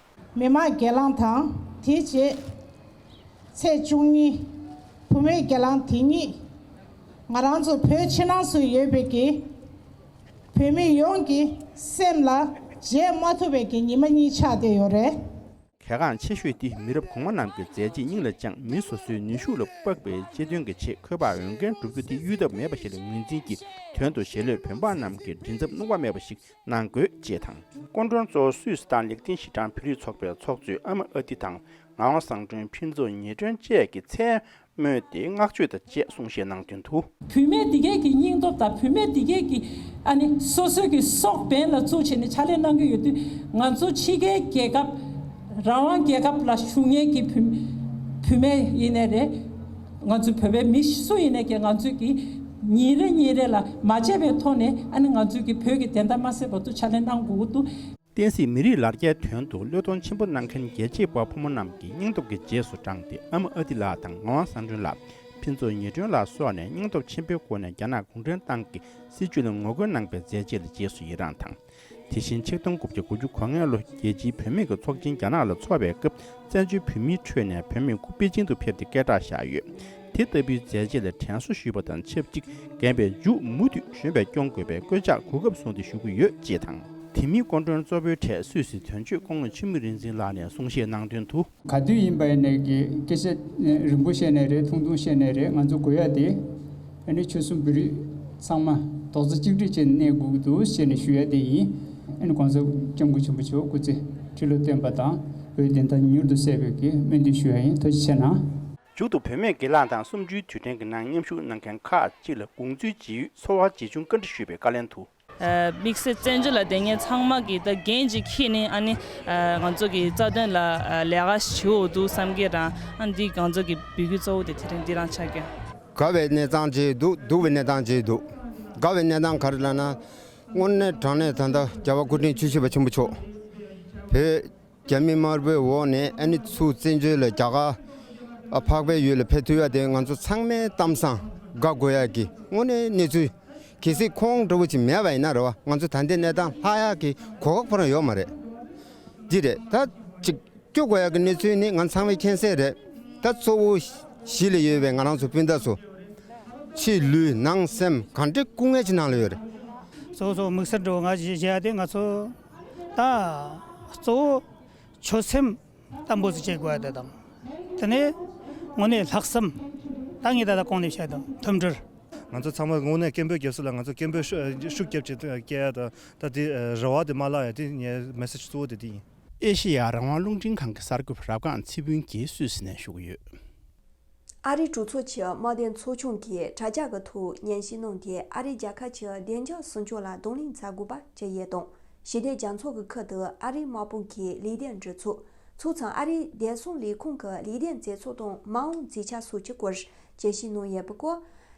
མི་དམངས་སྒེར་
ལངས་དང་དེའི་རྗེས། ཚེས་བཅུ་གཉིས། བུ་མོའི་སྒེར་ལངས་དེ་ཉིད། ང་རང་ཚོ་བོད་ཕྱི་ནང་སུ་ཡོད་པའི་གི། བོད་མི་ཡོངས་ཀྱི་སེམས་ལ་བརྗེད་མ་ཐུབ་པའི་གི་ཉི་མ་གཉིས་ཆགས་བསྡད་ཡོད་རེད། གལ་འགངས་ཆེ་
ཤོས་དེ་མི་རབས་གོང་མ་རྣམས་ཀྱི་མཛད་རྗེས་སྙིང་ལ་བཅངས་མི་སོ་སོའི་ནུས་ཤུགས་ལ་དཔག་པའི་གཅེས་འདོན་གྱི་ཆེད་འཁོད་པར་འོས་འགན་སྒྲུབ་རྒྱུ་དེ་གཡུལ་ཐབས་མེད་པ་ཞིག་ལ་ངོས་འཛིན་གྱིས་དོན་དུ་གཞེས་ལོས་བོད་འབངས་རྣམས་ཀྱི་མགྲིན་ཚབ་སྣུམ་བག་མེད་པ་ཞིག་གནང་དགོས་ཅེས་དང། སྐུ་མགྲོན་གཙོ་བོ་སུད་སི་ཐན་ལེགས་ལྡན་ཞི་ཀྲང་བོད་རིགས་ཚོགས་པའི་ཚོགས་གཙོས་ཨ་མ་ཨ་ཏི་དང་ངག་དབང་བཟང་སྒྲོན་ཕུན་ཚོགས་ཉེ་སྒྲོན་བཅས་ཀྱིས་མཚན་སྨོད་དེ་བསྔགས་བརྗོད་དང་བཅས་གསུང་བཤད་གནང་དོན་དུ། བུད་མེད་འདི་གའི་གི་
སྙིང་སྟོབས་དང་བུད་མེད་འདི་གའི་གི་ཨ་ནི་སོ་སོའི་གི་སྲོག་འབེན་ལ་བཙུགས་བྱས་ནས་ཕྱག་ལས་གནང་གི་ཡོད་དུས་ང་ཚོ་ཕྱི་རྒྱལ་རྒྱལ་ཁབ་རང་དབང་རྒྱལ་ཁབ་ལ་ཞུགས་ཉེན་གི་བུ་བུད་མེད་ཡིན་ནས་རེད། ང་ཚོའི་བོད་པའི་མི་སུ་ཡིན་ནས་ཀྱི་ང་ཚོས་ཀྱི་ཉིན་རེ་ཉིན་རེ་ལ་མ་བརྗེད་པའི་ཐོག་ནས་ཨ་ནི་ང་ཚོས་ཀྱི་བོད་ཀྱི་བདེན་མཐའ་མ་སེལ་བར་དུ་ཕྱག་ལེན་གནང་དགོས་ཀྱི་འདུག། བསྟན་སྲིད་མི་རིགས་
ལ་རྒྱའི་དོན་དུ་བློས་གཏོང་ཆེན་པོ་གནང་མཁན་རྒྱལ་གཅེས་དཔའ་བོ་མོ་རྣམས་ཀྱི་སྙིང་སྟོབས་ཀྱི་རྗེས་སུ་འབྲངས་ཏེ་ཨ་མ་ཨ་ཏི་ལགས་དང་ངག་དབང་བསམ་སྒྲོན་ལགས། ཕུན་ཚོགས་ཉི་སྒྲོན་ལགས་སོགས་ནས་སྙིང་སྟོབས་ཆེན་པོའི་སྒོ་ནས་རྒྱ་ནག་གུང་ཁྲན་ཏང་གི་སྲིད་བྱུས་ལ་ངོ་རྒོལ་གནང་པའི་མཛད་རྗེས་ལ་རྗེས་སུ་ཡི་རངས་དང། དེ་བཞིན་ཆིག་སྟོང་དགུ་བརྒྱ་དགུ་ཅུ་གོ་ལྔའི་ལོ་རྒྱལ་སྤྱིའི་བུད་མེད་ཀྱི་ཚོགས་ཆེན་རྒྱ་ནག་ལ་འཚོགས་པའི་སྐབས་བཙན་བྱོལ་བོད་མིའི་ཁྲོད་ནས་བོད་མི་དགུ་པེ་ཅིང་དུ་ཕེབས་ཏེ་སྐད་གྲགས་བཞག་ཡོད། དེ་ལྟ་བུའི་མཛད་རྗེས་ལ་དྲན་གསོ་ཞུས་པ་དང་ཆབས་ཅིག་རྒན་པའི་མཇུག་མུ་མཐུད་གཞོན་པས་སྐྱོང་དགོས་པའི་བཀོད་ཆགས་གོ་སྐབས་བཟུང་སྟེ་ཞུ་གི་ཡོད་ཅེས་དང། དེ་མིན་སྐུ་མགྲོན་གཙོ་བོའི་གྲས་སུད་སི་དོན་གཅོད་ཀོང་ལོ་ཆེན་མོ་རིག་འཛིན་ལགས་ནས་གསུང་བཤད་གནང་དོན་དུ། ག་དུས་ཡིན་པ་ནས་
ཀྱི་སྐད་ཆ་རིང་པོ་བཤད་ནས་རེད་ཐུང་ཐུང་བཤད་ནས་རེད་ང་ཚོ་དགོས་ཡ་དེ་ནི་ཆོལ་གསུམ་བོད་རིགས་ཚང་མ་རྡོག་རྩ་གཅིག་སྒྲིལ་བྱས་ནས་གནས་དགོས་ཀྱི་འདུག་བཤད་ནས་ཞུ་ཡ་དེ་ཡིན་ཨ་ནི་གོང་ས་སྐྱབས་མགོན་ཆེན་པོ་མཆོག་སྐུ་ཚེ་ཁྲི་ལོ་བརྟན་པ་དང་བོའི་བདེན་མཐའ་མྱུར་དུ་གསལ་དགོས་ཀྱི་སྨོན་འདུན་ཞུ་ཡ་ཡིན་ཐུགས་རྗེ་ཆེ་ན། མཇུག་ཏུ་བོད་མིའི་
སྒེར་ལངས་དང་གསུམ་བཅུའི་དུས་དྲན་གྱི་ནང་མཉམ་ཞུགས་གནང་མཁན་ཁག་ཅིག་ལ་དགོངས་ཚུལ་ཇི་ཡོད་འཚོལ་བར་རྗེས་ཆུང་བཀའ་འདྲི་ཞུས་པའི་བཀའ་ལན་དུ། དམིགས་བསལ་བཙན་
བྱོལ་ལ་དེ་སྔའི་ཚང་མ་གི་ད་རྒན་གཅིག་ཁྱེད་ནི་ཨ་ནི་ང་ཚོ་གི་རྩ་དོན་ལ་ལས་ཀ་བྱེད་འོ་འདུག་བསམ་གི་རང་ཨ་འདི་གང་ཚོ་གི་བུ་གུ་གཙོ་བོ་དེ་དེ་རིང་འདི་རང་ཆགས་ཀྱི། དགའ་བའི་གནས་སྟངས་
བྱས་འདུག་སྡུག་བའི་གནས་སྟངས་བྱས་འདུག་དགའ་བའི་གནས་སྟངས་ག་རེ་ལ་ན། སྔོན་གནས་དྲང་གནས་ད་ལྟ་རྒྱལ་བ་སྐུ་ཕྲེང་བཅུ་བཞི་པ་ཆེན་པོ་མཆོག་བོད། རྒྱ་མི་དམར་པོའི་འོག་ནས་ཨ་ནི་ཚུ་བཙན་བྱོལ་ལ་རྒྱ་གར་འཕགས་པའི་ཡུལ་ལ་ཕེབས་ཐུབ་ཡ་དེ་ང་ཚོ་ཚང་མའི་གཏམ་བཟང་དགའ་དགོས་ཡ་གི་དངོས་གནས་གནས་ཚུལ་གལ་སྲིད་ཁོང་འདྲ་བོ་ཅིག་མེད་པ་ཡིན་ན་རེ་བ་ང་ཚོ་ད་འདི་གནས་སྟངས་ལྷག་ཡ་གི་གོ་ཁ་ཁོ་རང་ཡོད་མ་རེད་འདི་རེད་ད། ཅིག་སྐྱོ་དགོས་ཡ་གི་གནས་ཚུལ་ནི་ང་ཚང་མའི་མཁྱེན་གསལ་རེད་ད་གཙོ་བོ་གཞིས་ལ་ཡོད་པའི་ང་རང་ཚོ་སྤུན་ཟླ་ཚོ་ཕྱིའི་ལུས་ནང་སེམས་གང་འདྲའི་སྐུ་ངལ་གྱི་ནང་ལ་ཡོད་རེད། གཙོ་བོ་ཚོ་
དམིགས་བསལ་འགྲོ་འགའ་བྱེད་ཡ་དེ་ང་ཚོ། དང། གཙོ་བོ་ཆོད་སེམས་དམ་པོ་བྱེད་དགོས་པ་དེ་དང། དེ་ནས་དངོས་གནས་ལྷག་བསམ་ད་ངས་ད་ལྟ་གང་ནས་བཤད་དང་ཐུབ་འགྲུལ། ང་ཚོ་ཚང་མ་དངོས་
གནས་སྐད་འབོད་རྒྱབ་སྲིད་ལ་ང་ཚོ་སྐད་འབོད་ཤུགས་རྒྱབ་ཅིག་སྐད་ཡག་དང་ད་དེ་རེ་བ་དེ་མ་བརླག་ཡ་དེ་ངའི Message གཙོ་བོ་དེ་དེ་ཡིན། ཨེ་ཤེ་ཡ་རང་དབང་
རླུང་འཕྲིན་ཁང་གི་གསར་འགོད་རབ་སྒང་ཚེ་ཕུན་རྒྱའི་སུད་སི་ནས་ཞུགས་ཡོད། ཨ་
རིའི་གྲོས་ཚོགས་ཀྱི་དམག་སྡེའི་ཚོགས་ཆུང་གིས་དྲ་རྒྱ་གི་ཐོག་སྙན་ཞུ་གནང་སྟེ་ཨ་རིས་རྒྱ་གར་གྱི་བདེ་འཇགས་སྲུང་སྐྱོང་ལ་གདོང་ལེན་བྱ་དགོས་པ་བཅས་ཡས་དང་ཞི་བདེ་རྒྱ་མཚོ་གི་ཁུལ་དུ་ཨ་རིའི་དམག་དཔུང་གི་ལས་སྟེགས་འབྲེལ་ཚོགས་ཚོགས་ཚང་ཨ་རིའི་བདེ་སྲུང་ལས་ཁུངས་ཀྱི་ལས་སྟེགས་མཛད་ཚོགས་དང་མ་འོངས་རྩིས་ཆ་སོགས་ཀྱི་སྐོར་དཔྱད་གཞི་གནང་ཡས་པའི་སྐོར་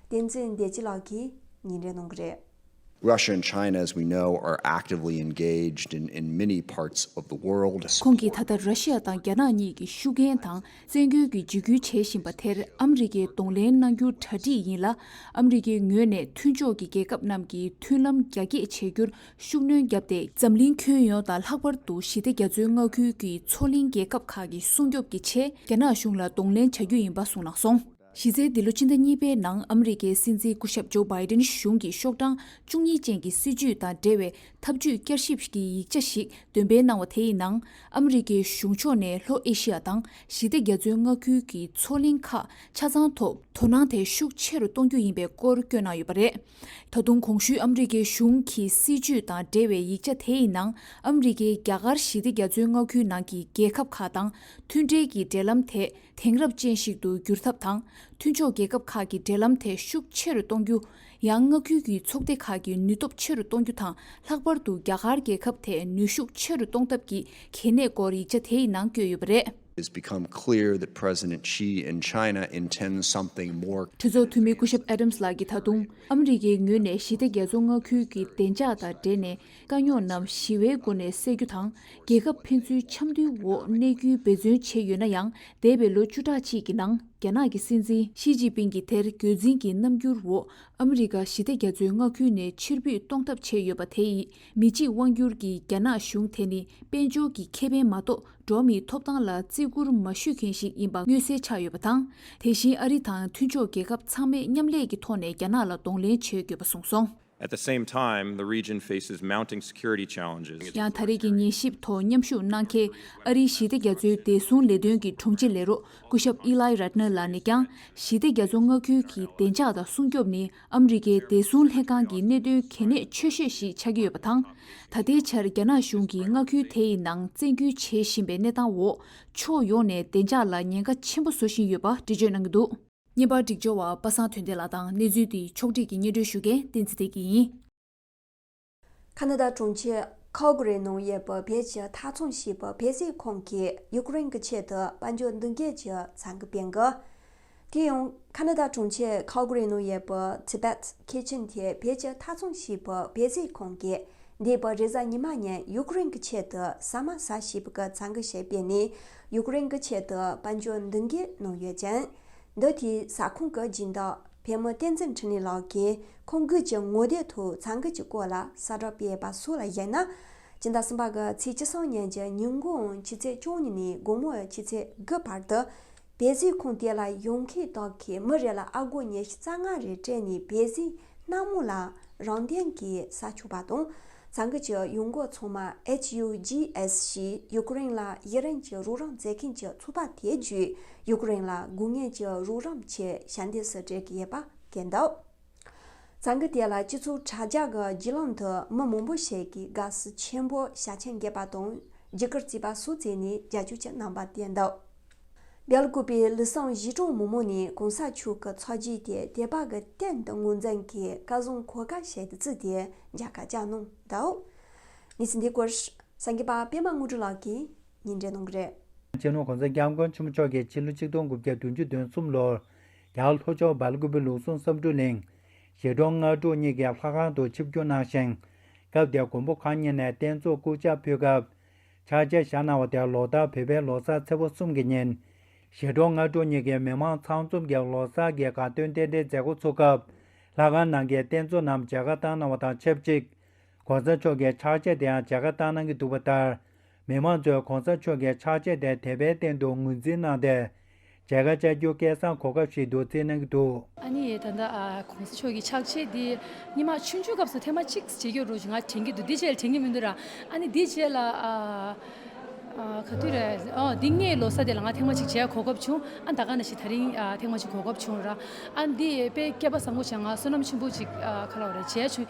བསྟན་འཛིན་བདེ་སྐྱིད་ལགས་ཀྱིས་
ཉིན་རེ་གནང་གི་རེད། ཁོང་གིས་ད་ལྟ་ར་ཤི་
ཡ་དང་རྒྱ་ནག་གཉིས་ཀྱིས་ཤུགས་རྐྱེན་དང་བཙན་སྐུལ་གྱིས་འཇིགས་སྐུལ་བྱེད་བཞིན་པ་དེར་ཨ་མི་རི་ཀས་གདོང་ལེན་གནང་རྒྱུ་གྲ་སྒྲིག་ཡིན་ལ་ཨ་མི་རི་ཀའི་ངོས་ནས་མཐུན་ཕྱོགས་ཀྱི་རྒྱལ་ཁབ་རྣམས་ཀྱིས་མཐུན་ལམ་རྒྱ་སྐྱེད་བྱེད་རྒྱུར་ཤུགས་སྣོན་བརྒྱབ་སྟེ། འཛམ་གླིང་ཁྱོན་ཡོངས་དང་ལྷག་པར་དུ་ཞི་བདེ་རྒྱ་མཚོའི་མངའ་ཁུལ་གྱི་མཚོ་གླིང་རྒྱལ་ཁབ་ཁག་གི་སྲུང་སྐྱོབ་ཀྱི་ཆེད་རྒྱ་ནག་གཞུང་ལ་གདོང་ལེན་བྱ་རྒྱུ་ཡིན་པ་གསུངས་གནང་སོང། གཞི་རྩའི་འདི་ལོ་སྤྱི་ཟླ་གཉིས་པའི་ནང་ཨ་མི་རི་ཀའི་སྲིད་འཛིན་སྐུ་ཞབས་ཇོ་སྦའི་ཏན་གཞུང་གིས་ཤོག་གྲངས་བཅུ་གཉིས་ཅན་གྱི་སྲིད་ཇུས་དང་འབྲེལ་བའི་ཐབས་ཇུས་བསྐྱར་ཞིབ་ཀྱི་ཡིག་ཆ་ཞིག་འདོན་སྤེལ་གནང་བ་དེ་ཡི་ནང་ཨ་མི་རི་ཀའི་གཞུང་ཕྱོགས་ནས་ལྷོ་ཨེ་ཤི་ཡ་དང་ཞི་བདེ་རྒྱ་མཚོའི་མངའ་ཁུལ་གྱི་མཚོ་གླིང་ཁག་ཆ་ཚང་ཐོག་དོ་སྣང་དེ་ཤུགས་ཆེ་རུ་གཏོང་རྒྱུ་ཡིན་པའི་སྐོར་བསྐྱོན་གནང་ཡོད་པ་རེད། ད་དུང་གོང་ཞུས་ཨ་མི་རི་ཀའི་གཞུང་གི་སྲིད་ཇུས་དང་འབྲེལ་བའི་ཡིག་ཆ་དེ་ཡི་ནང་ཨ་མི་རི་ཀས་རྒྱ་གར་ཞི་བདེ་རྒྱ་མཚོའི་མངའ་ཁུལ་ནང་གི་རྒྱལ་ཁབ་ཁག་དང་མཐུན་འབྲེལ་གྱི་འབྲེལ་ལམ་དེ་དེང་རབས་ཅན་ཞིག་ཏུ་བསྒྱུར་ཐབས་དང་མཐུན་ཕྱོགས་རྒྱལ་ཁབ་ཁག་གི་འབྲེལ་ལམ་དེ་ཤུགས་ཆེ་རུ་གཏོང་རྒྱུ། ཡང་མངའ་ཁུལ་གྱི་ཚོགས་སྡེ་ཁག་གི་ནུས་སྟོབས་ཆེ་རུ་གཏོང་རྒྱུ་དང་ལྷག་པར་དུ་རྒྱ་གར་རྒྱལ་ཁབ་དེ་ནུས་ཤུགས་ཆེ་རུ་གཏོང་ཐབས་ཀྱི་གལ་གནད་སྐོར་ཡིག་ཆ་དེའི་ནང་བསྐྱོད་
ཡོད་པ་རེད། གྲོས་ཚོགས་འཐུས་མི་སྐུ་ཞབས
Adams ལགས་ཀྱིས་ད་དུང་ཨ་མི་རི་ཀའི་ངོས་ནས་ཞི་བདེ་རྒྱལ་ཚོགས་མངའ་ཁུལ་གྱི་བདེ་འཇགས་དང་འབྲེལ་ནས་དཀའ་རྙོག་རྣམས་ཞི་བའི་སྒོ་ནས་སེལ་རྒྱུ་དང་རྒྱལ་ཁབ་ཕན་ཚུན་འཆམ་མཐུན་འོག་གནས་རྒྱུའི་འབད་བརྩོན་བྱས་ཡོད་ན་ཡང་འདས་པའི་ལོ་བཅུ་ཕྲག་ཅིག་གི་ནང་རྒྱ་ནག་གི་སྲིད་འཛིན་ཞི་ཅིན་ཕིན་གྱིས་དེར་རྒྱུད་འཛིན་གྱི་རྣམ་འགྱུར་འོག་ཨ་མི་རི་ཀ་ཞི་བདེ་རྒྱ་མཚོའི་མངའ་ཁུལ་ནས་ཕྱིར་འབུད་གཏོང་ཐབས་བྱས་ཡོད་པ་དེ་ཡིས་མི་གཅིག་དབང་བསྒྱུར་གྱི་རྒྱ་ནག་གཞུང་དེ་ནི་དཔལ་འབྱོར་གྱི་ཁེ་ཕན་མ་གཏོགས་འགྲོ་བ་མིའི་ཐོབ་ཐང་ལ་བརྩི་བཀུར་མ་ཞུས་མཁན་ཞིག་ཡིན་པ་མངོན་གསལ་ཆགས་ཡོད་པ་དང། དེ་བཞིན་ཨ་རི་དང་མཐུན་ཕྱོགས་རྒྱལ་ཁབ་ཚང་མས་མཉམ་ལས་ཀྱི་ཐོག་ནས་རྒྱ་ནག་ལ་གདོང་ལེན་བྱེད་དགོས་པ་གསུངས་སོང། ཡང་
ད་རེས་ཀྱི་ཉན་ཞིབ་
ཐོག་མཉམ་ཞུགས་གནང་མཁན་ཨ་རིའི་ཞི་བདེ་རྒྱ་མཚོའི་བདེ་སྲུང་ལས་དོན་གྱི་དྲུང་ཆེ་ལས་རོགས་སྐུ་ཞབས Ely Ratner ལགས་ནས་ཀྱང་ཞི་བདེ་རྒྱ་མཚོ་མངའ་ཁུལ་གྱི་བདེ་འཇགས་དང་སྲུང་སྐྱོབ་ནི་ཨམ་རི་ཀའི་བདེ་སྲུང་ལྷན་ཁང་གི་གནད་དོན་གལ་གནད་ཆོད་ཤོས་ཤིག་ཆགས་ཀྱི་ཡོད་པ་དང། ད་ལྟའི་ཆར་རྒྱ་ནག་གཞུང་གིས་མངའ་ཁུལ་དེ་ཡི་ནང་བཙན་འགྱུར་བྱེད་བཞིན་པའི་གནས་སྟངས་འོག་ཕྱོགས་ཡོངས་ནས་བདེ་འཇགས་ལ་ཉེན་ཁ་ཆེན་པོ་བཟོ་བཞིན་ཡོད་པ་འགྲེལ་བརྗོད་གནང་གི་འདུག། བརྙན་པར་སྒྲིག་སྦྱོར་བ་པ་སངས་དོན་བདེ་ལགས་དང་གནས་ཚུལ་དེའི་ཕྱོགས་སྒྲིག་གི་སྙན་སྒྲོན་ཞུ་མཁན་བསྟན་འཛིན་བདེ་སྐྱིད་ཡིན།
ཁ་ནཱ་ད་གྲོང་ཁྱེར Calgary ནང་ཡོད་པའི་བོད་ཀྱི་མཐའ་མཚམས་ཞེས་པའི་བོད་སིལ་ཁང་གིས་ཡུ་ཀེ་རེན་གྱི་ཆེད་དུ་དཔལ་འབྱོར་མདུན་སྐྱོད་ཀྱི་ཚང་གི་དཔེ་འགོད། དེ་ཡང་ཁ་ནཱ་ད་གྲོང་ཁྱེར Calgary ནང་ཡོད་པའི Tibet Kitchen དེ་བོད་ཀྱི་མཐའ་མཚམས་ཞེས་པའི་བོད་སིལ་ཁང་གིས་འདས་པའི་རེས་གཟའ་ཉི་མ་ཉིན་ཡུ་ཀེ་རེན་གྱི་ཆེད་དུ་ཟ་མ་ཟ་ཞེས་པའི་ཚང་གི་ཞལ་དཔེ་ནི་ཡུཀ་རེན་གྱི་ཆེད་དུ་དཔལ་འབྱོར་མདུན་བསྐྱོད་གནང་ཡོད་ཅིང། འདི་དུས་ས་ཁོངས་ཀྱི་སྦྱིན་བདག་བལ་མོ་བསྟན་འཛིན་འཕྲིན་ལས་ལགས་ཀྱིས་ཁོང་དགུན་གྱི་ངོ་དེབ་དུ་ཚང་གི་ཀྱི་སྐོར་ལ་གསལ་བསྒྲགས་སྤེལ་པ་སོགས་ལ་གཞིགས་ན། སྤྱི་ཟླ་གསུམ་པ་གི་ཚེས་གཅིག་སང་ཉིན་གྱི་ཉིན་དགུང་ཕྱི་ཚེས་བཅུ་གཉིས་ནས་དགོང་མོ་ཕྱི་ཚེས་དགུ་བར་དུ། བལ་གཟིགས་ཁང་དེ་ལ་ཡོང་མཁན་དག་གིས་མི་རེ་ལ་ཨ་སྒོར་ཉེར་བཞི་རྩ་ལྔ་རེ་སྤྲད་ནས་བལ་གཟིགས་སྣང་མོ་ལ་རང་སྟེང་གི་ས་ཕྱུག་པ་དང་ཚང་གི་ཀྱི་ཡུལ་འགོ་ཚང་མ HUGS ཞིག་ཡུ་ཀུ་རེན་ལ་ཡི་རན་གྱི་རུག་རམ་མཛད་མཁན་གྱི་ཚུགས་པ་དེ་བརྒྱུད་ཡུ་ཀུ་རེན་ལ་སྒུག་ངན་གྱི་རུག་རམ་ཆེ་ཞན་དེ་སུ་སྤྲད་ཀྱི་ཡེད་པ་གན་འདུག་ཚང་གི་དེ་ལ་སྤྱི་ཚུགས་དྲ་རྒྱ་གི་བརྒྱུད་ལམ་དུ་མི་མང་པོ་ཞིག་གི་དགའ་བསུ་ཆེན་པོ་ཞག་ཆེན་རྒྱས་པ་དང་བརྒྱུད་སྐུར་རྩིས་པ་སུ་བཙས་ནས་རྒྱ་ཁྱུ་གྱི་རྣམ་པ་བསྟན་འདུག། རྒྱལ་བཀོད་པའི་ལི་སང་གཞིས་གྲོང་མོ་མོ་ནི་གོང་ས་མཆོག་གི་ཚོགས་རྗེས་དེ་དེ་བག་གི་སྟེང་དུ་ངོ་མཚན་གྱི་བཀའ་བཟང་གོ་དཀའ་བྱས་ཏེ་བརྩིས་ཏེ་མཇལ་ཁ་བཅར་གནང་འདུག་གནས་
ཚུལ་འདིའི་སྐོར་སངས་རྒྱས་པ་པད་མ་དངོས་གྲུབ་ལགས་ཀྱིས་ཉིན་རེ་གནང་གི་རེད། རྗེ་ནོར་གོང་ས་སྐྱབས་མགོན་ཆེན་པོ་མཆོག་རྒྱལ་སྤྱིའི་ལོ་གཅིག་སྟོང་དགུ་བརྒྱ་དོན་བཅུ་དོན་གསུམ་ལོར། རྒྱ་གར་ལྷོ་ཕྱོགས་འབར་ཀུམ་པའི་ལུགས་ཟུང་བསམ་འགྲུབ་གླིང། གཞིས་གྲོང་སྔ་དྲོ་གཉིས་ཀའི་ལྷ་ཁང་དུ་ཆིབས་བསྒྱུར་གནང་ཞིང། སྐབས་དེར་མགོན་པོ་གང་ཉིད་ནས་རྟེན་གཙོ་སྐུ་ཕྱག་ཕུལ་སྐབས། ཕྱག་རྒྱ་བཞག་གནང་བ་དེར་ལོ་ལྟར་བོད་པའི་ལོ་གསར་ཚེས་པོ་གསུམ་གྱི་ཉིན། ཞི་ཁྲོ་སྔ་དྲོ་གཉིས་ཀའི་མི་མང་ཚང་འཛོམས་ཀྱིས་ལོ་གསར་གྱི་དགའ་སྟོན་རྟེན་འབྲེལ་མཛད་སྒོ་ཚུགས་སྐབས། ལྷ་ཁང་ནང་གི་རྟེན་གཙོ་རྣམས་མཇལ་ཁ་བཏང་གནང་བ་དང་ཆབས་ཅིག ྋགོང་ས་མཆོག་གི་ཕྱག་རྗེས་དེའང་མཇལ་ཁ་བཏང་གནང་གི་འདུག་པ་ལྟར། མི་མང་ཚོས ྋགོང་ས་མཆོག་གི་ཕྱག་རྗེས་དེ་དད་པའི་སྟེང་དུ་ངོས་འཛིན་གནང་སྟེ། བྱ་དགའ་བཅའ་རྒྱུ་སྐལ་བཟང་གོ་སྐབས་ཤིག་འདུག་བརྩིས་གནང་གི་འདུག། ཨ་ནི་ཡས་ད་ལྟ་
གོང་ས་མཆོག་གི་ཕྱག་ཆེན་འདི་སྙེ་མ་ཆུང་ཆུང་སྐབས་སུ་ཐེངས་མ་གཅིག་བྱེད་རྒྱུ་རོ་ང་དྲན་གྱི་འདུག་འདི་རྗེས་དྲན་གྱི་མི་འདུག་ར་ཨ་ནི་འདི་རྗེས་ལ་ག་དུས་རེད་ཨོ་འདི་སྔའི་ལོ་སར་དེ་ལ་ང་ཐེངས་མ་གཅིག་བྱས་གོ་སྐབས་བྱུང་ཨ་ད་ག་ན་ཞིག་ད་རིང་ཐེངས་མ་གཅིག་གོ་སྐབས་བྱུང་ར་ཨ་འདི་དཔེ་བསྐལ་པ་བཟང་པོ་བྱས་ང་བསོད་ནམས་ཆེན་པོ་གཅིག་ག་ལ་བ་རེད་བྱས་བྱུང་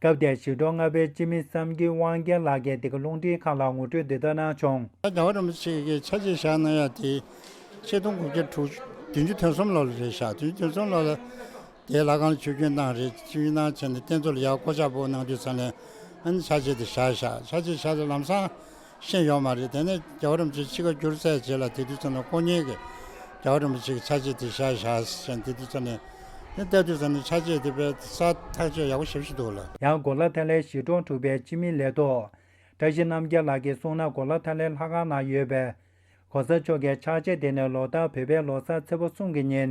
སྐབས་དེར་ཞི་ཁྲོ་ལྔ་པའི་སྤྱི་མི་བསམ་གྱིས་དབང་རྒྱལ་ལགས་ཀྱིས་དེ་གའི་རླུང་འཕྲིན་ཁང་ལ་ངོ་སྤྲོད་འདི་ལྟར་གནང་བྱུང། ད་ལྟ་རིམ་པ་གཅིག་གི་ཆ་
རྗེས་བཞག་གནང་ཡག་དེ། ཆིག་སྟོང་དགུ་བརྒྱ་དྲུག་ཅུ་བདུན་ཅུ་དོན་གསུམ་ལོར་རེད་བཞག་དོན་བདུན་གསུམ་ལོར་ལ། དེའི་ལ་ཁང་ལ་ཆུ་རྒྱུན་བཏང་རེད་ཆུ་རྒྱུན་བཏང་བྱས་ནས་རྟེན་གཙོ་ལ་ཡག་བསྐོ་ཆག་པོ་གནང་དུས་ཚར་ནས། ཨ་ནི་ཆ་རྗེས་དེ་བཞག་བཞག་ཆ་རྗེས་བཞག་ལམ་སང། ཤེས་ཡོད་མ་རེད་དེ་ནས་རྒྱ་གོ་རིམ་ཅིག་ཕྱི་ཁ་བསྒྱུར་ཚད་བྱེད་ལ་དེ་དུས་ཚོ་ནས་ཁོ་གཉིས་ཀྱི་རྒྱ་གོ་རིམ་ཅིག་ཆ་བྱེད་དེ་བཞག་བཞག་བཞག་དེ་དུས་ཚོ་ནས་ནི་ལྟ་དུས་ཚོ་ནས་ཆ་བྱེད་དེ་པའི་ས་ཐག་གཅོད་ཡག་པོ་བྱེད་བཞིན་འདུག་ལ། ཡང་གོ་ལ་ཐ་ལའི་གཞིས་
གྲོང་དྲུག་པའི་སྤྱི་མི་ལས་ཐོག་བཀྲ་ཤིས་རྣམ་རྒྱལ་ལགས་ཀྱིས་གསུངས་ན་གོ་ལ་ཐ་ལའི་ལྷ་ཁང་ནང་ཡོད་པའི་གོ་ས་མཆོག་གི་ཕྱག་ཆས་དེ་ནི་ལོ་ལྟར་བོད་པའི་ལོ་སར་ཚེས་པ་གསུམ་གྱི་ཉིན་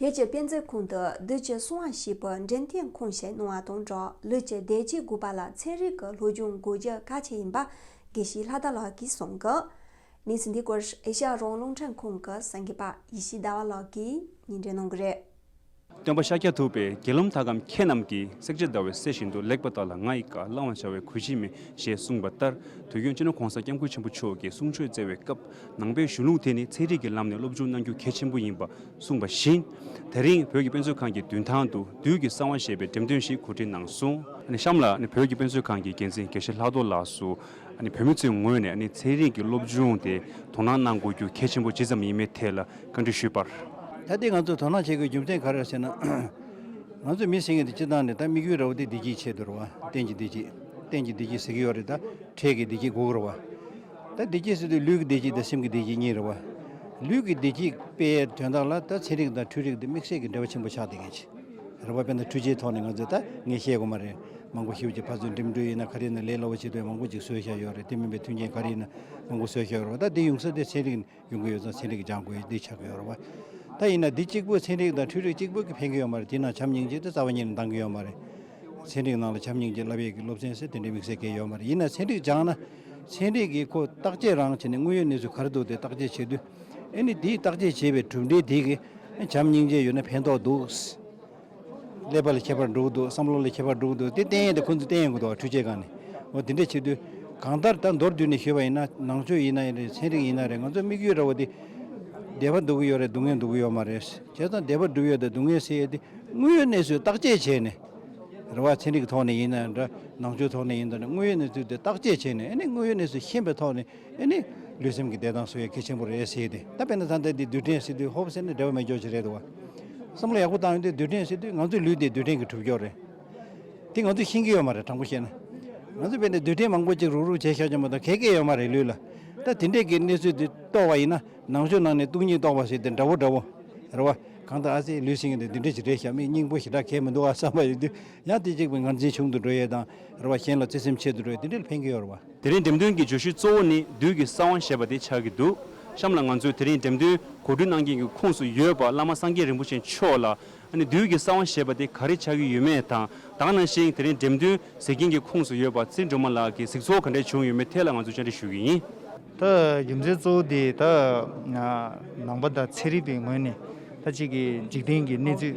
བོད་ཀྱི་དཔེ་མཛོད་ཁང་དུ་བདུད་ཀྱི་སྲུང་བ་ཞེས་པའི་
འདྲེན་ཐེངས་ཁུངས་བཤད་གནང་བ་དང་སྦྲགས་ལུས་ཀྱི་བདེ་སྐྱིད་དགོས་པ་ལ་ཚན་རིག་གི་ལྷོ་སྒྱུང་དགོས་རྒྱུ་གལ་ཆེ་ཡིན་པ་དགེ་བཤེས་ལྷ་དར་ལགས་ཀྱིས་གསུངས། གནས་འདི་སྐོར་ཨེ་ཤ་ཡ་རོང་རླུང་འཕྲིན་ཁང་གི་སེང་གེ་པ་ཡེ་ཤེས་ཟླ་བ་ལགས་ཀྱིས་ཉིན་འགྲེལ་གནང་གི་རེད།
སྟོན་པ་ཤཱཀྱ་ཐུབ་པས་དགེ་སློང་དག་གམ་ཁྱེད་རྣམས་ཀྱིས་བསྲེག་བྱེད་ཟླ་བའི་གསེར་བཞིན་དུ་ལེགས་པ་དག་ལ་ང་ཡི་བཀའ་བླང་བར་བྱ་བའི་གོལ་ཅི་མེད་ཞེས་གསུངས་པ་ལྟར་དུས་ཁྱོད་ཅི་ནུས་གོང་ས་སྐྱབས་མགོན་ཆེན་པོ་མཆོག་གི་གསུང་ཆོས་བསྩལ་བའི་སྐབས་ནང་པའི་གཞུང་ལུགས་དེ་ནི་ཚན་རིག་གི་ལམ་ནས་སློབ་སྦྱོང་གནང་རྒྱུ་གལ་ཆེན་པོ་ཡིན་པ་གསུངས་པ་བཞིན། ད་རིང་བོད་ཀྱི་དཔེ་མཛོད་ཁང་གི་མདུན་ཐང་དུ་བདུད་ཀྱི་གསང་བ་ཞེས་པའི་འགྲེམས་སྟོན་ཞིག་གོ་སྒྲིག་གནང་སོང། གཤམ་ལ་བོད་ཀྱི་དཔེ་མཛོད་ཁང་གི་འགན་འཛིན་དགེ་བཤེས་ལྷག་རྡོར་ལགས་སུ། བོད་མི་ཚོའི་ངོས་ནས་ཚན་རིག་གི་སློབ་སྦྱོང་དེ་དོ་སྣང་གནང་དགོས་རྒྱུ་གལ་ཆེན་པོ་ཇི་ཙམ་ཡིན་མེད་ཐད་ལ་བཀའ་འདྲི་ཞུས་པར། ད་ལྟའི་ང་ཚོས་དོ་
སྣང་བྱེད་དགོས་རྒྱུ་མཚན་ག་རེ་རེད་ཟེར་ན། ང་ཚོས་མི་སེང་ངེ་དེ་སྤྱི་བཏང་ནས་ད་དམིགས་ཡུལ་ར་བ་དེ་བདེ་སྐྱིད་ཆེད་དུ་ར་བ། གཏན་གྱི་བདེ་སྐྱིད། གཏན་གྱི་བདེ་སྐྱིད་ཟེར་གྱི་ཡོད་རེད་ད། འཕྲལ་གྱི་བདེ་སྐྱིད་འགོག་དགོས་ར་བ། ད་བདེ་སྐྱིད་ཟེར་དུས་ལུས་ཀྱི་བདེ་སྐྱིད་དང་སེམས་ཀྱི་བདེ་སྐྱིད་གཉིས་རེད་བ། ལུས་ཀྱི་བདེ་སྐྱིད་དཔེ་དོན་དག་ལ་ད་ཚན་རིག་དང་འཕྲུལ་རིག་དང་དམིགས་བསལ་གྱི་འབྲེལ་བ་ཆེན་པོ་ཆགས་བསྡད་མཁན་ཞིག་རེད་བ། དཔེར་ན་འཕྲུལ་ཆས་ཐོག་ནས་ང་ཚོས་ད་ངས་བཤད་དགོས་མ་རེད། མང་པོ་ཞིག་ཡོད་ཅིག་ཕར་ཚུར་འགྲིམ་འགྲུལ་ཡིན་ན་ག་རེ་ཡིན་ན་ལས་སླ་བོ་བྱེད་དུས་མང་པོ་ཅིག་བཟོས་བཞག་ཡོད་རེད་དེ་མིན་པའི་མཐུན་རྐྱེན་ག་རེ་ཡིན་ན་མང་པོ་བཟོས་བཞག་ཡོད་རེད་བ། ད་དེ་ཡོང་ས་དེ་ཚན་རིག། ཡོང་གི་ཡོད་ཙང་ཚན་རིག་གི་ལྗང་ཁུ་འདི་ཆགས་ཀྱི་ཡོད་རེད་བ། ད་ཡིན་ན་འདི་གཅིག་པུ་ཚན་རིག་དང་འཕྲུལ་རིག་གཅིག་པུ་གིས་ཕན་གྱི་ཡོད་མ་རེད་དེས་ན་བྱམས་སྙིང་རྗེ་དེ་རྩ་བ་ཉིད་ནས་འདང་གི་ཡོད་མ་རེད། ཚན་རིག་ནང་ལ་བྱམས་སྙིང་རྗེ་བསླབ་ཡས་ཀྱི་སློབ་ཚན་ཟེར་དེ་འདྲའི་དམིགས་བསལ་གལ་ཡོད་མ་རེད་ཡིན་ན་ཚན་རིག་སྦྱངས་ན། ཚན་རིག་གིས་ཁོ་བརྟག་དཔྱད་རང་བྱས་ནས་དངོས་ཡོད་གནས་ཚུལ་ག་རེ་འདུག་དེ་བརྟག་དཔྱད་བྱེད་དུས། ཨེ་ནི་དེའི་བརྟག་དཔྱད་བྱས་པའི་གྲུབ་འབྲས་དེ་གིས་བྱམས་སྙིང་རྗེ་ཡོད་ན་ཕན་ཐོགས་འདུག། ཀླད་པ་ལས་ཁྱད་པར་འགྲོ་གི་འདུག་བསམ་བློ་ལས་ཁྱད་པར་འགྲོ་གི་འདུག་དེ་བསྟན་ཡས་དེ་ཁོ་ཚོས་བསྟན་ཡས་དགོས་འདུག་འཕྲུལ་ཆས་གང་ནས་འོ་དེ་འདྲས་བྱེད་དུས། གང་ལྟར་ད་མདོར་བསྡུས་ནས་ཞུས་པ་ཡིན་ན་ནང་ཆོས་ཡིན་ན་ཡིན་རེད་ཚན་རིག་ཡིན་ན་རེད་ང་ཚོས་དམིགས་ཡུལ་ར་བ་དེ། བདེ་བ་འདུག་གི་ཡོད་རེད་སྡུག་བསྔལ་འདུག་གི་ཡོད་མ་རེད། བྱས་ཙང་བདེ་བ་འགྲུབ་ཡོད་དང་སྡུག་བསྔལ་སེལ་ཡོད་དེ་དངོས་ཡོད་གནས་ཚུལ་བརྟག་དཔྱད་བྱས་ནས། ར་བ་ཚན་རིག་གི་ཐོག་ནས་ཡིན་ན་ཡང་འདྲ་ནང་ཆོས་ཐོག་ནས་ཡིན་ན་འདྲ་དངོས་ཡོད་གནས་ཚུལ་དེ་བརྟག་དཔྱད་བྱས་ནས་ཨ་ནི་དངོས་ཡོད་གནས་ཚུལ་ཤེས་པའི་ཐོག་ནས། འདི་ནི་ལུས་སེམས་ཀྱི་བདེ་ཐང་སུ་ཡི་གེ་ཆེན་པོ་རེད་ཟེར་ཏེ་ད་དཔེར་ན་ད་ལྟ་འདི་རྡུལ་ཕྲན་སྲིད་དུས་ཧོབ་ཟེར་ནས་འབྲེལ་བ་མེད་འཇོག་བྱེད་རེད་འདུག་བ། བསམ་བློ་ཡག་པོ་བཏང་ཡོང་དུས་རྡུལ་ཕྲན་སྲིད་དུས་ང་ཚོའི་ལུས་འདི་རྡུལ་ཕྲན་གྱི་གྲུབ་མཆོག་རེད། དེ་ང་ཚོས་ཤེས་ཀྱི་ཡོད་མ་རེད་དྲང་པོ་བཤད་ན། ང་ཚོས་བོད་ནས་རྡུལ་ཕྲན་མང་པོ་ཅིག་རུག་རུག་བྱས་ཤག་བྱུང་བ་དང་གད་གས་ཡོད་མ་རེད་ལུས་ལ། ད་དེ་འདྲས་ཀྱི་གནས་ཚུལ་འདི་རྟོགས་བ་ཡིན་ན་ནང་ཆོས་ནང་ནས་སྟུག་སྙིང་རྟོགས་པ་ཟེར་ཏེ་འདྲ་བོ་འདྲ་བོ། རེད་བ། གང་ལྟར་ཨ་ཙི་ལུས་སེམས་ཀྱི་འདི་འདི་འདྲས་ཞིག་རེད་ཤག་མི་སྙིང་པོ་ཞེ་དྲག་གས་མི་འདུག་ཨ་བསམ་པ་ཡོད་དུས་ཡང་དེ་གཅིག་པུས་ངར་འཛིན་ཆུང་དུ་འགྲོ་ཡས་དང། རེད་བ། གཞན་ལ་བརྩེ་སེམས་ཆེ་དུ་འགྲོ་ཡས་འདི་འདྲས་ལ་ཕན་གྱི་ཡོད་རེད་བ། དེ་རིང་འགྲེམས་སྟོན་གྱི་བརྗོད་
གཞི་གཙོ་བོ་ནི་བདུད་ཀྱི་ས་དབང་ཞེས་པ་དེ་ཆགས་ཀྱི་འདུག་གཤམ་ལ་ང་ཚོས་དེ་རིང་འགྲེམས་སྟོན་གོ་སྒྲིག་གནང་མཁན་གྱི་ཁུངས་སུ་ཡོད་པ་བླ་མ་སངས་རྒྱས་རིན་པོ་ཆེ་མཆོག་ལ་ཨ་ནི་བདུད་ཀྱི་ས་དབང་ཞེས་པ་དེ་ག་རེ་ཆགས་ཀྱི་ཡོད་མེད་དང་དག་ན་ཞིང་དེ་རིང་འགྲེམས་སྟོན་ཟེར་མཁན་གྱི་ཁུངས་སུ་ཡོད་པ་རྩིས་འགྲོ་མ་ལགས་ཀྱི་གཟིགས་ཚོགས་ག་འདྲས་བྱུང་ཡོད་མེད་ཐད་ལ་ང་ཚོས་བཅར་འདྲི་ཞུ་གི་ཡིན། ད་
རྒྱུ་མཚན་གཙོ་བོ་དེ་ད་ནང་པ་དང་ཚན་རིག་པའི་ངོས་ནས་ད་གཅིག་གི་འཇིག་རྟེན་གྱི་གནས་ཚུལ།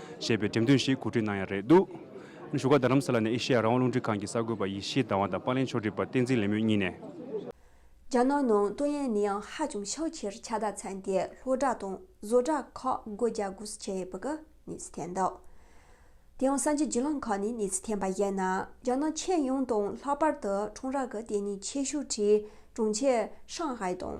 ཞེས་པའི་འགྲེམས་སྟོན་ཞིག་གོ་སྒྲིག་གནང་ཡ་རེད་འདུག་བཞུགས་སྒར་རྡ་རམ་ས་ལ་ནས་ཨེ་ཤེ་ཡ་རང་དབང་རླུང་འཕྲིན་ཁང་གི་གསར་འགོད་པ་ཡེ་ཤེས་ཟླ་བ་དང་པཱ་ལེན་ཆོས་སྒྲིག་པ་བསྟན་འཛིན་ལེགས་མོས་གཉིས་ནས། རྒྱ་
ནག་ནང་ཏུ་ཡན་ནི་ཡང་ཧ་ཅང་ཤོག་ཁྱེར་ཁྱ་དག་ཚན་དེ་ལྷོ་བྲག་དང་བཟོ་བྲག་ཁག་སྒོ་རྒྱ་སྒོ་སུ་ཁྱེར་ཡས་པི་ཀི་ནས་སུ་འཐེན་འདུག་དེ་ཡང་ས་འཇིག་རྒྱུ་ལང་ཁག་ནས་ནས་སུ་འཐེན་པ་བཞིན་ན་རྒྱ་ནག་ཁྱེད་ཡོངས་དང་ལྷག་པར་དུ་ཁྲོང་ར་གི་ལྟེ་གནས་ཆེ་ཤོས་ཁྲི་གྲོང་ཁྱེར་ཧྲང་ཧའེ་དང།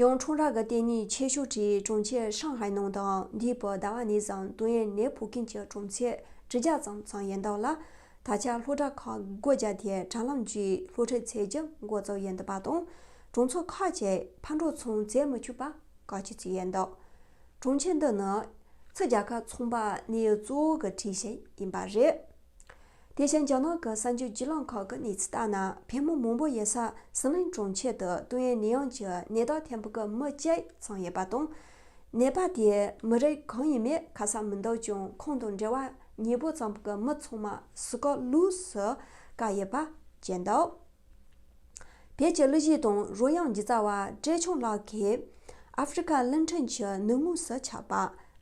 ཡང་ཁྲུང་ར་གི་ལྟེ་གནས་ཆེ་ཤོས་ཀྱི་གྲོང་ཁྱེར་ཧྲང་ཧའེ་ནང་དང་འདས་པའི་ཟླ་བ་ནས་བཟུང་ཏུའུ་ཡན་ནེ་བོད་ཁྱིམ་གྱི་གྲོང་ཚད་ཁྲི་བརྒྱ་ཙམ་ཙམ་ཡིན་འདུག་ལ། ད་ཆ་སློབ་གྲྭ་ཁག་སྒོ་བརྒྱབ་སྟེ་དྲ་ལམ་བརྒྱུད་སློབ་ཁྲིད་བྱེད་རྒྱུ་འགོ་བཙུགས་ཡོད་འདུག་པ་དང། གྲོང་ཚོ་ཁག་ཅིག་ཕར་འགྲོ་ཚོང་མཛད་མི་ཆོག་པ་བཀག་སྐྱིལ་བྱས་ཡོད་འདུག་གྲོང་ཁྱེར་འདི་ནི་ཚིག་རྒྱ་གར་ཚོང་པ་གནས་གཙོ་བོ་གི་གྲས་ཤིག་ཡིན་པ་རེད། དེ་བཞིན་རྒྱ་ནག་གི་གསར་འགྱུར་བརྒྱུད་ལམ་ཁག་གི་གནས་ཚུལ་ལྟར་ན་བལ་མོ་མང་པོ་ཡོད་ས་ཟི་ལིང་གྲོང་ཁྱེར་དུ་ཏུང་ཡན་ནེ་ཡང་གྱི་ནད་བདག་ཐེམ་ཕུག་གི་མི་བཅས་ཚང་ཡོད་པ་དང། ནད་པ་དེས་མི་རིགས་གང་ཡིན་མེད་ཁ་གསལ་མི་འདུག་ཀྱང་ཁོང་དང་འབྲེལ་བ་ཉེ་པོ་ཙམ་གྱི་མི་ཚང་མ་སུ་ཀ་ལུས་སུ་བཀག་ཡོད་པ་བཅས་འདུག། བོད་ཀྱི་གླུ་གཞས་དང་རོལ་དབྱངས་ཀྱི་རྩ་བ་བཀྲས་ཆང་ལགས་ཀྱིས་ཨ་ཧྥེ་རི་ཁ་གླིང་ཕྲན་གྱི་ནུབ་ངོས་སུ་ཆགས་པ་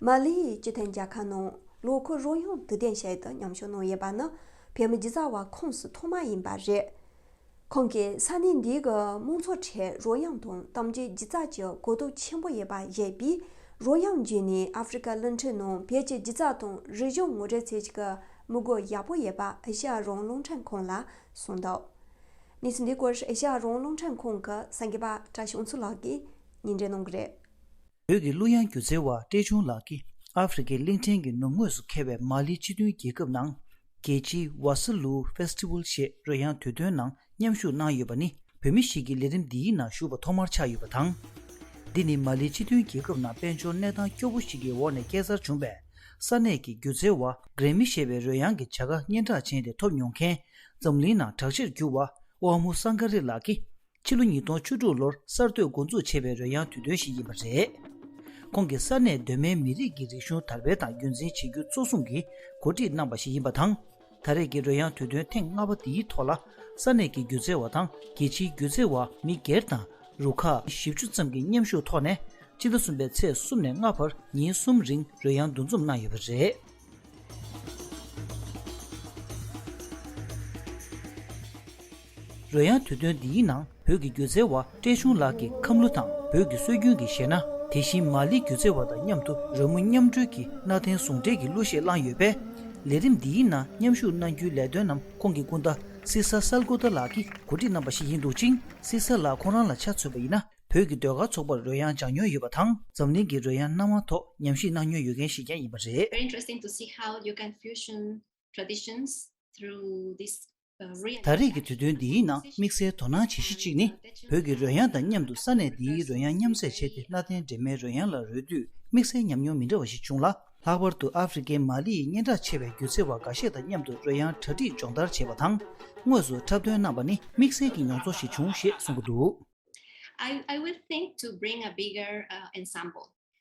མ་ལི་ཡི་སྤྱི་མཐུན་རྒྱལ་ཁབ་ནང་ལོ་འཁོར་རོལ་དབྱངས་དུས་གཏན་བྱེད་དུ་མཉམ་ཞུགས་གནང་ཡོད་པ་ནི་བོད་མི་ཀྱི་རྩ་བ་ཁོངས་སུ་ཐོག་མ་ཡིན་པ་རེད། ཁོང་གིས་ས་གནས་འདིའི་མང་ཚོགས་ཁྲོད་རོལ་དབྱངས་དང་གཏམ་རྒྱུད་སྒྱུ་རྩལ་གྱི་གོ་རྟོགས་ཆེན་པོ་ཡོད་པ་བཞེས་པས་རོལ་དབྱངས་བརྒྱུད་ནས་ཨ་ཧྥེ་རི་ཁ་གླིང་ཕྲན་ནང་བོད་ཀྱི་སྒྱུ་རྩལ་དང་རིག་གཞུང་ངོ་སྤྲོད་ཚུལ་གྱི་དམིགས་སྒོ་ཡག་པོ་ཡོད་པ་ཨེ་ཤ་ཡ་རོང་གླིང་ཕྲན་ཁོང་ལ་གསུངས་འདུག་གནས་ཚུལ་འདི་སྐོར་ཨེ་ཤ་ཡ་རོང་རླུང་འཕྲིན་ཁང་གི་སེང་གེ་པ་བཀྲ་ཤོང་
མཚོ་ལགས་ཀྱིས་ཉིན་འགྲེལ་གནང་གི་རེད། བོད་ཀྱི་གླུ་དབྱངས་སྒྱུ་རྩལ་བ་བཀྲས་ཆུང་ལགས་ཀྱིས་ཨ་ཧྥེ་རི་ཀའི་གླིང་ཕྲན་གྱི་ནུབ་ངོས་སུ་ཁེལ་བའི་མཱ་ལི་སྤྱི་མཐུན་རྒྱལ་ཁབ་ནང། རྒྱལ་སྤྱིའི Wasslu Festival ཞེས་རོལ་དབྱངས་དུས་སྟོན་ནང་མཉམ་ཞུགས་གནང་ཡོད་པ་ནི་བོད་མི་ཞིག་གིས་ལས་རིམ་འདིའི་ནང་ཞུགས་པ་ཐོག་མར་ཆགས་ཡོད་པ་དང། འདི་ནི་མཱ་ལི་སྤྱི་མཐུན་རྒྱལ་ཁབ་ནང་དཔལ་འབྱོར་གནས་སྟངས་སྐྱོ་བོ་ཞིག་གི་འོག་ནས་སྐྱེ་འཚར་བྱུང་བས་ས་གནས་ཀྱི་སྒྱུ་རྩལ་བ་རེ་མི་ཤེས་པའི་རོལ་དབྱངས་ཀྱི་བྱ་དགའ་སྙན་གྲགས་ཅན་དེ་ཐོབ་མྱོང་མཁན། འཛམ་གླིང་ནང་གྲགས་ཆེར་གྱུར་བ་ཨོ་མུ་སཱ་མཁའ་རི་ལགས་ཀྱིས་ཕྱི་ལོ་ཉིས་སྟོང་བཅུ་དྲུག་ལོར་གསར་གཏོད་མགོ་འཛུགས་བྱས་པའི་རོལ་དབྱངས་དུས་སྟོན་ཞིག་ཡིན་པ་རེད། ཁོང་གིས་ས་གནས་གདོད་མའི་མི་རིགས་ཀྱི་རིག་གཞུང་དར་སྤེལ་དང་རྒྱུན་འཛིན་བྱེད་རྒྱུ་གཙོ་བཟུང་གིས་གོ་སྒྲིག་གནང་པ་ཞིག་ཡིན་པ་དང། ད་རེས་ཀྱི་རོལ་དབྱངས་དུས་སྟོན་ཐེངས་ལྔ་པ་འདིའི་ཐོག་ལ་ས་གནས་ཀྱི་སྒྱུ་རྩལ་བ་དང་རྒྱལ་ཕྱིའི་སྒྱུ་རྩལ་བ་མི་སྒེར་དང་རུ་ཁག་བཞི་བཅུ་ཙམ་གྱི་མཉམ་ཞུགས་ཐོག་ནས་སྤྱི་ཟླ་གསུམ་པའི་ཚེས་གསུམ་ནས་ལྔ་བར་ཉིན་གསུམ་རིང་རོལ་དབྱངས་འདུ་འཛོམས་གནང་ཡོད་པ་རེད། རོལ་དབྱངས་དུས་སྟོན་འདིའི་ནང་བོད་ཀྱི་སྒྱུ་རྩལ་བ་བཀྲས་ཆུང་ལགས་ཀྱིས་ཁམས་གླུ་དང་བོད་ཀྱི་སྲོལ་རྒྱུན་གྱི་གཞས་སྣ་དེ་བཞིན་མ་ལི་སྒྱུ་རྩལ་བ་དང་མཉམ་དུ་རོལ་མོ་མཉམ་སྒྲོལ་གྱིས་གནའ་དེང་ཟུང་འབྲེལ་གྱི་གླུ་གཞས་བླངས་ཡོད་པས། ལས་རིམ་འདིའི་ནང་མཉམ་ཞུགས་གནང་རྒྱུའི་ལས་དོན་རྣམས་ཁོང་གི་སྐུ་ཟླ་སི་ས་སལ་གོ་ཏཱ་ལགས་ཀྱིས་གོ་སྒྲིག་གནང་པ་ཞིག་ཡིན་འདུག་ཅིང་སི་ས་ལགས་ཁོང་རང་ལ་ཆ་མཚོན་པ་ཡིན་ན་བོད་ཀྱི་ཟློས་གར་ཚོགས་པར་རོལ་དབྱངས་སྦྱངས་མྱོང་ཡོད་པ་དང་འཛམ་གླིང་གི་རོལ་དབྱངས་སྣ་མང་ཐོག་ཉམས་ཞིབ་གནང་མྱོང་ཡོད་མཁན་ཞིག་ཀྱང་ཡིན་པ་རེད། Very interesting to see
how you can fusion traditions through this ད་རེས་ཀྱི་དུས་
སྟོན་འདིའི་ནང་དམིགས་བསལ་དོ་སྣང་བྱེད་གཞི་གཅིག་ནི་བོད་ཀྱི་རོལ་དབྱངས་དང་མཉམ་དུ་ས་གནས་འདིའི་རོལ་དབྱངས་མཉམ་བསྲེས་བྱས་ཏེ་གནའ་དེང་འདྲེས་མའི་རོལ་དབྱངས་ལ་རོལ་དུས་དམིགས་བསལ་ཉམས་མྱོང་མི་འདྲ་བ་ཞིག་བྱུང་ལ། ལྷག་པར་དུ་ཨ་ཧྥེ་རི་ཁའི་མ་ལི་ཡི་སྙན་གྲགས་ཆེ་བའི་སྒྱུ་རྩལ་བ་འགའ་ཤས་དང་མཉམ་དུ་རོལ་དབྱངས་གྲ་སྒྲིག་སྦྱོང་བརྡར་བྱས་པ་དང། དངོས་སུ་འཁྲབ་སྟོན་གནང་བ་ནི་དམིགས་བསལ་གྱི་མྱོང་ཚོར་ཞིག་བྱུང་ཞེས་གསུངས་པ་འདུག།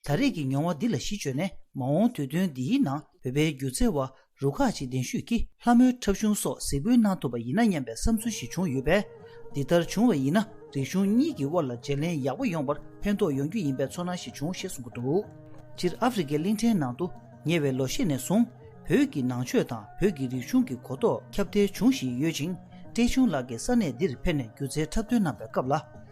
ད་རེས་
ཀྱི་མྱོང་བ་འདི་ལ་གཞི་བཅོལ་ནས་མ་འོངས་དུས་སྟོན་འདིའི་ནང་བོད་པའི་སྒྱུ་རྩལ་བ་རུ་ཁག་ཅིག་གདན་ཞུས་ཀྱིས་ལྷ་མོའི་འཁྲབ་གཞུང་སོགས་གཟིགས་འབུལ་གནང་ཐུབ་པ་ཡིན་ན་སྙམ་པའི་བསམ་ཚུལ་ཞིག་བྱུང་ཡོད་པས། འདི་ལྟར་བྱུང་བ་ཡིན་ན་རིག་གཞུང་གཉིས་ཀྱི་དབར་ལ་བརྗེ་ལེན་ཡག་པོ་ཡོང་བར་ཕན་ཐོགས་ཡོང་རྒྱུ་ཡིན་པའི་ཚོར་སྣང་ཞིག་བྱུང་ཞེས་གསུངས་ཀྱི་འདུག་སྤྱིར་ཨ་ཧྥེ་རི་ཁའི་གླིང་ཕྲན་ནང་དུ་ཉེ་བའི་ལོ་ཤས་ནས་བཟུང་བོད་ཀྱི་ནང་ཆོས་དང་བོད་ཀྱི་རིག་གཞུང་གི་གོ་རྟོགས་ཁྱབ་གདལ་འབྱུང་བཞིན་ཡོད་ཅིང་བཀྲས་ཆུང་ལགས་ཀྱིས་ས་གནས་འདིར་ཕེབས་ནས་སྒྱུ་རྩལ་འཁྲབ་སྟོན་གནང་བའི་སྐབས་ལ།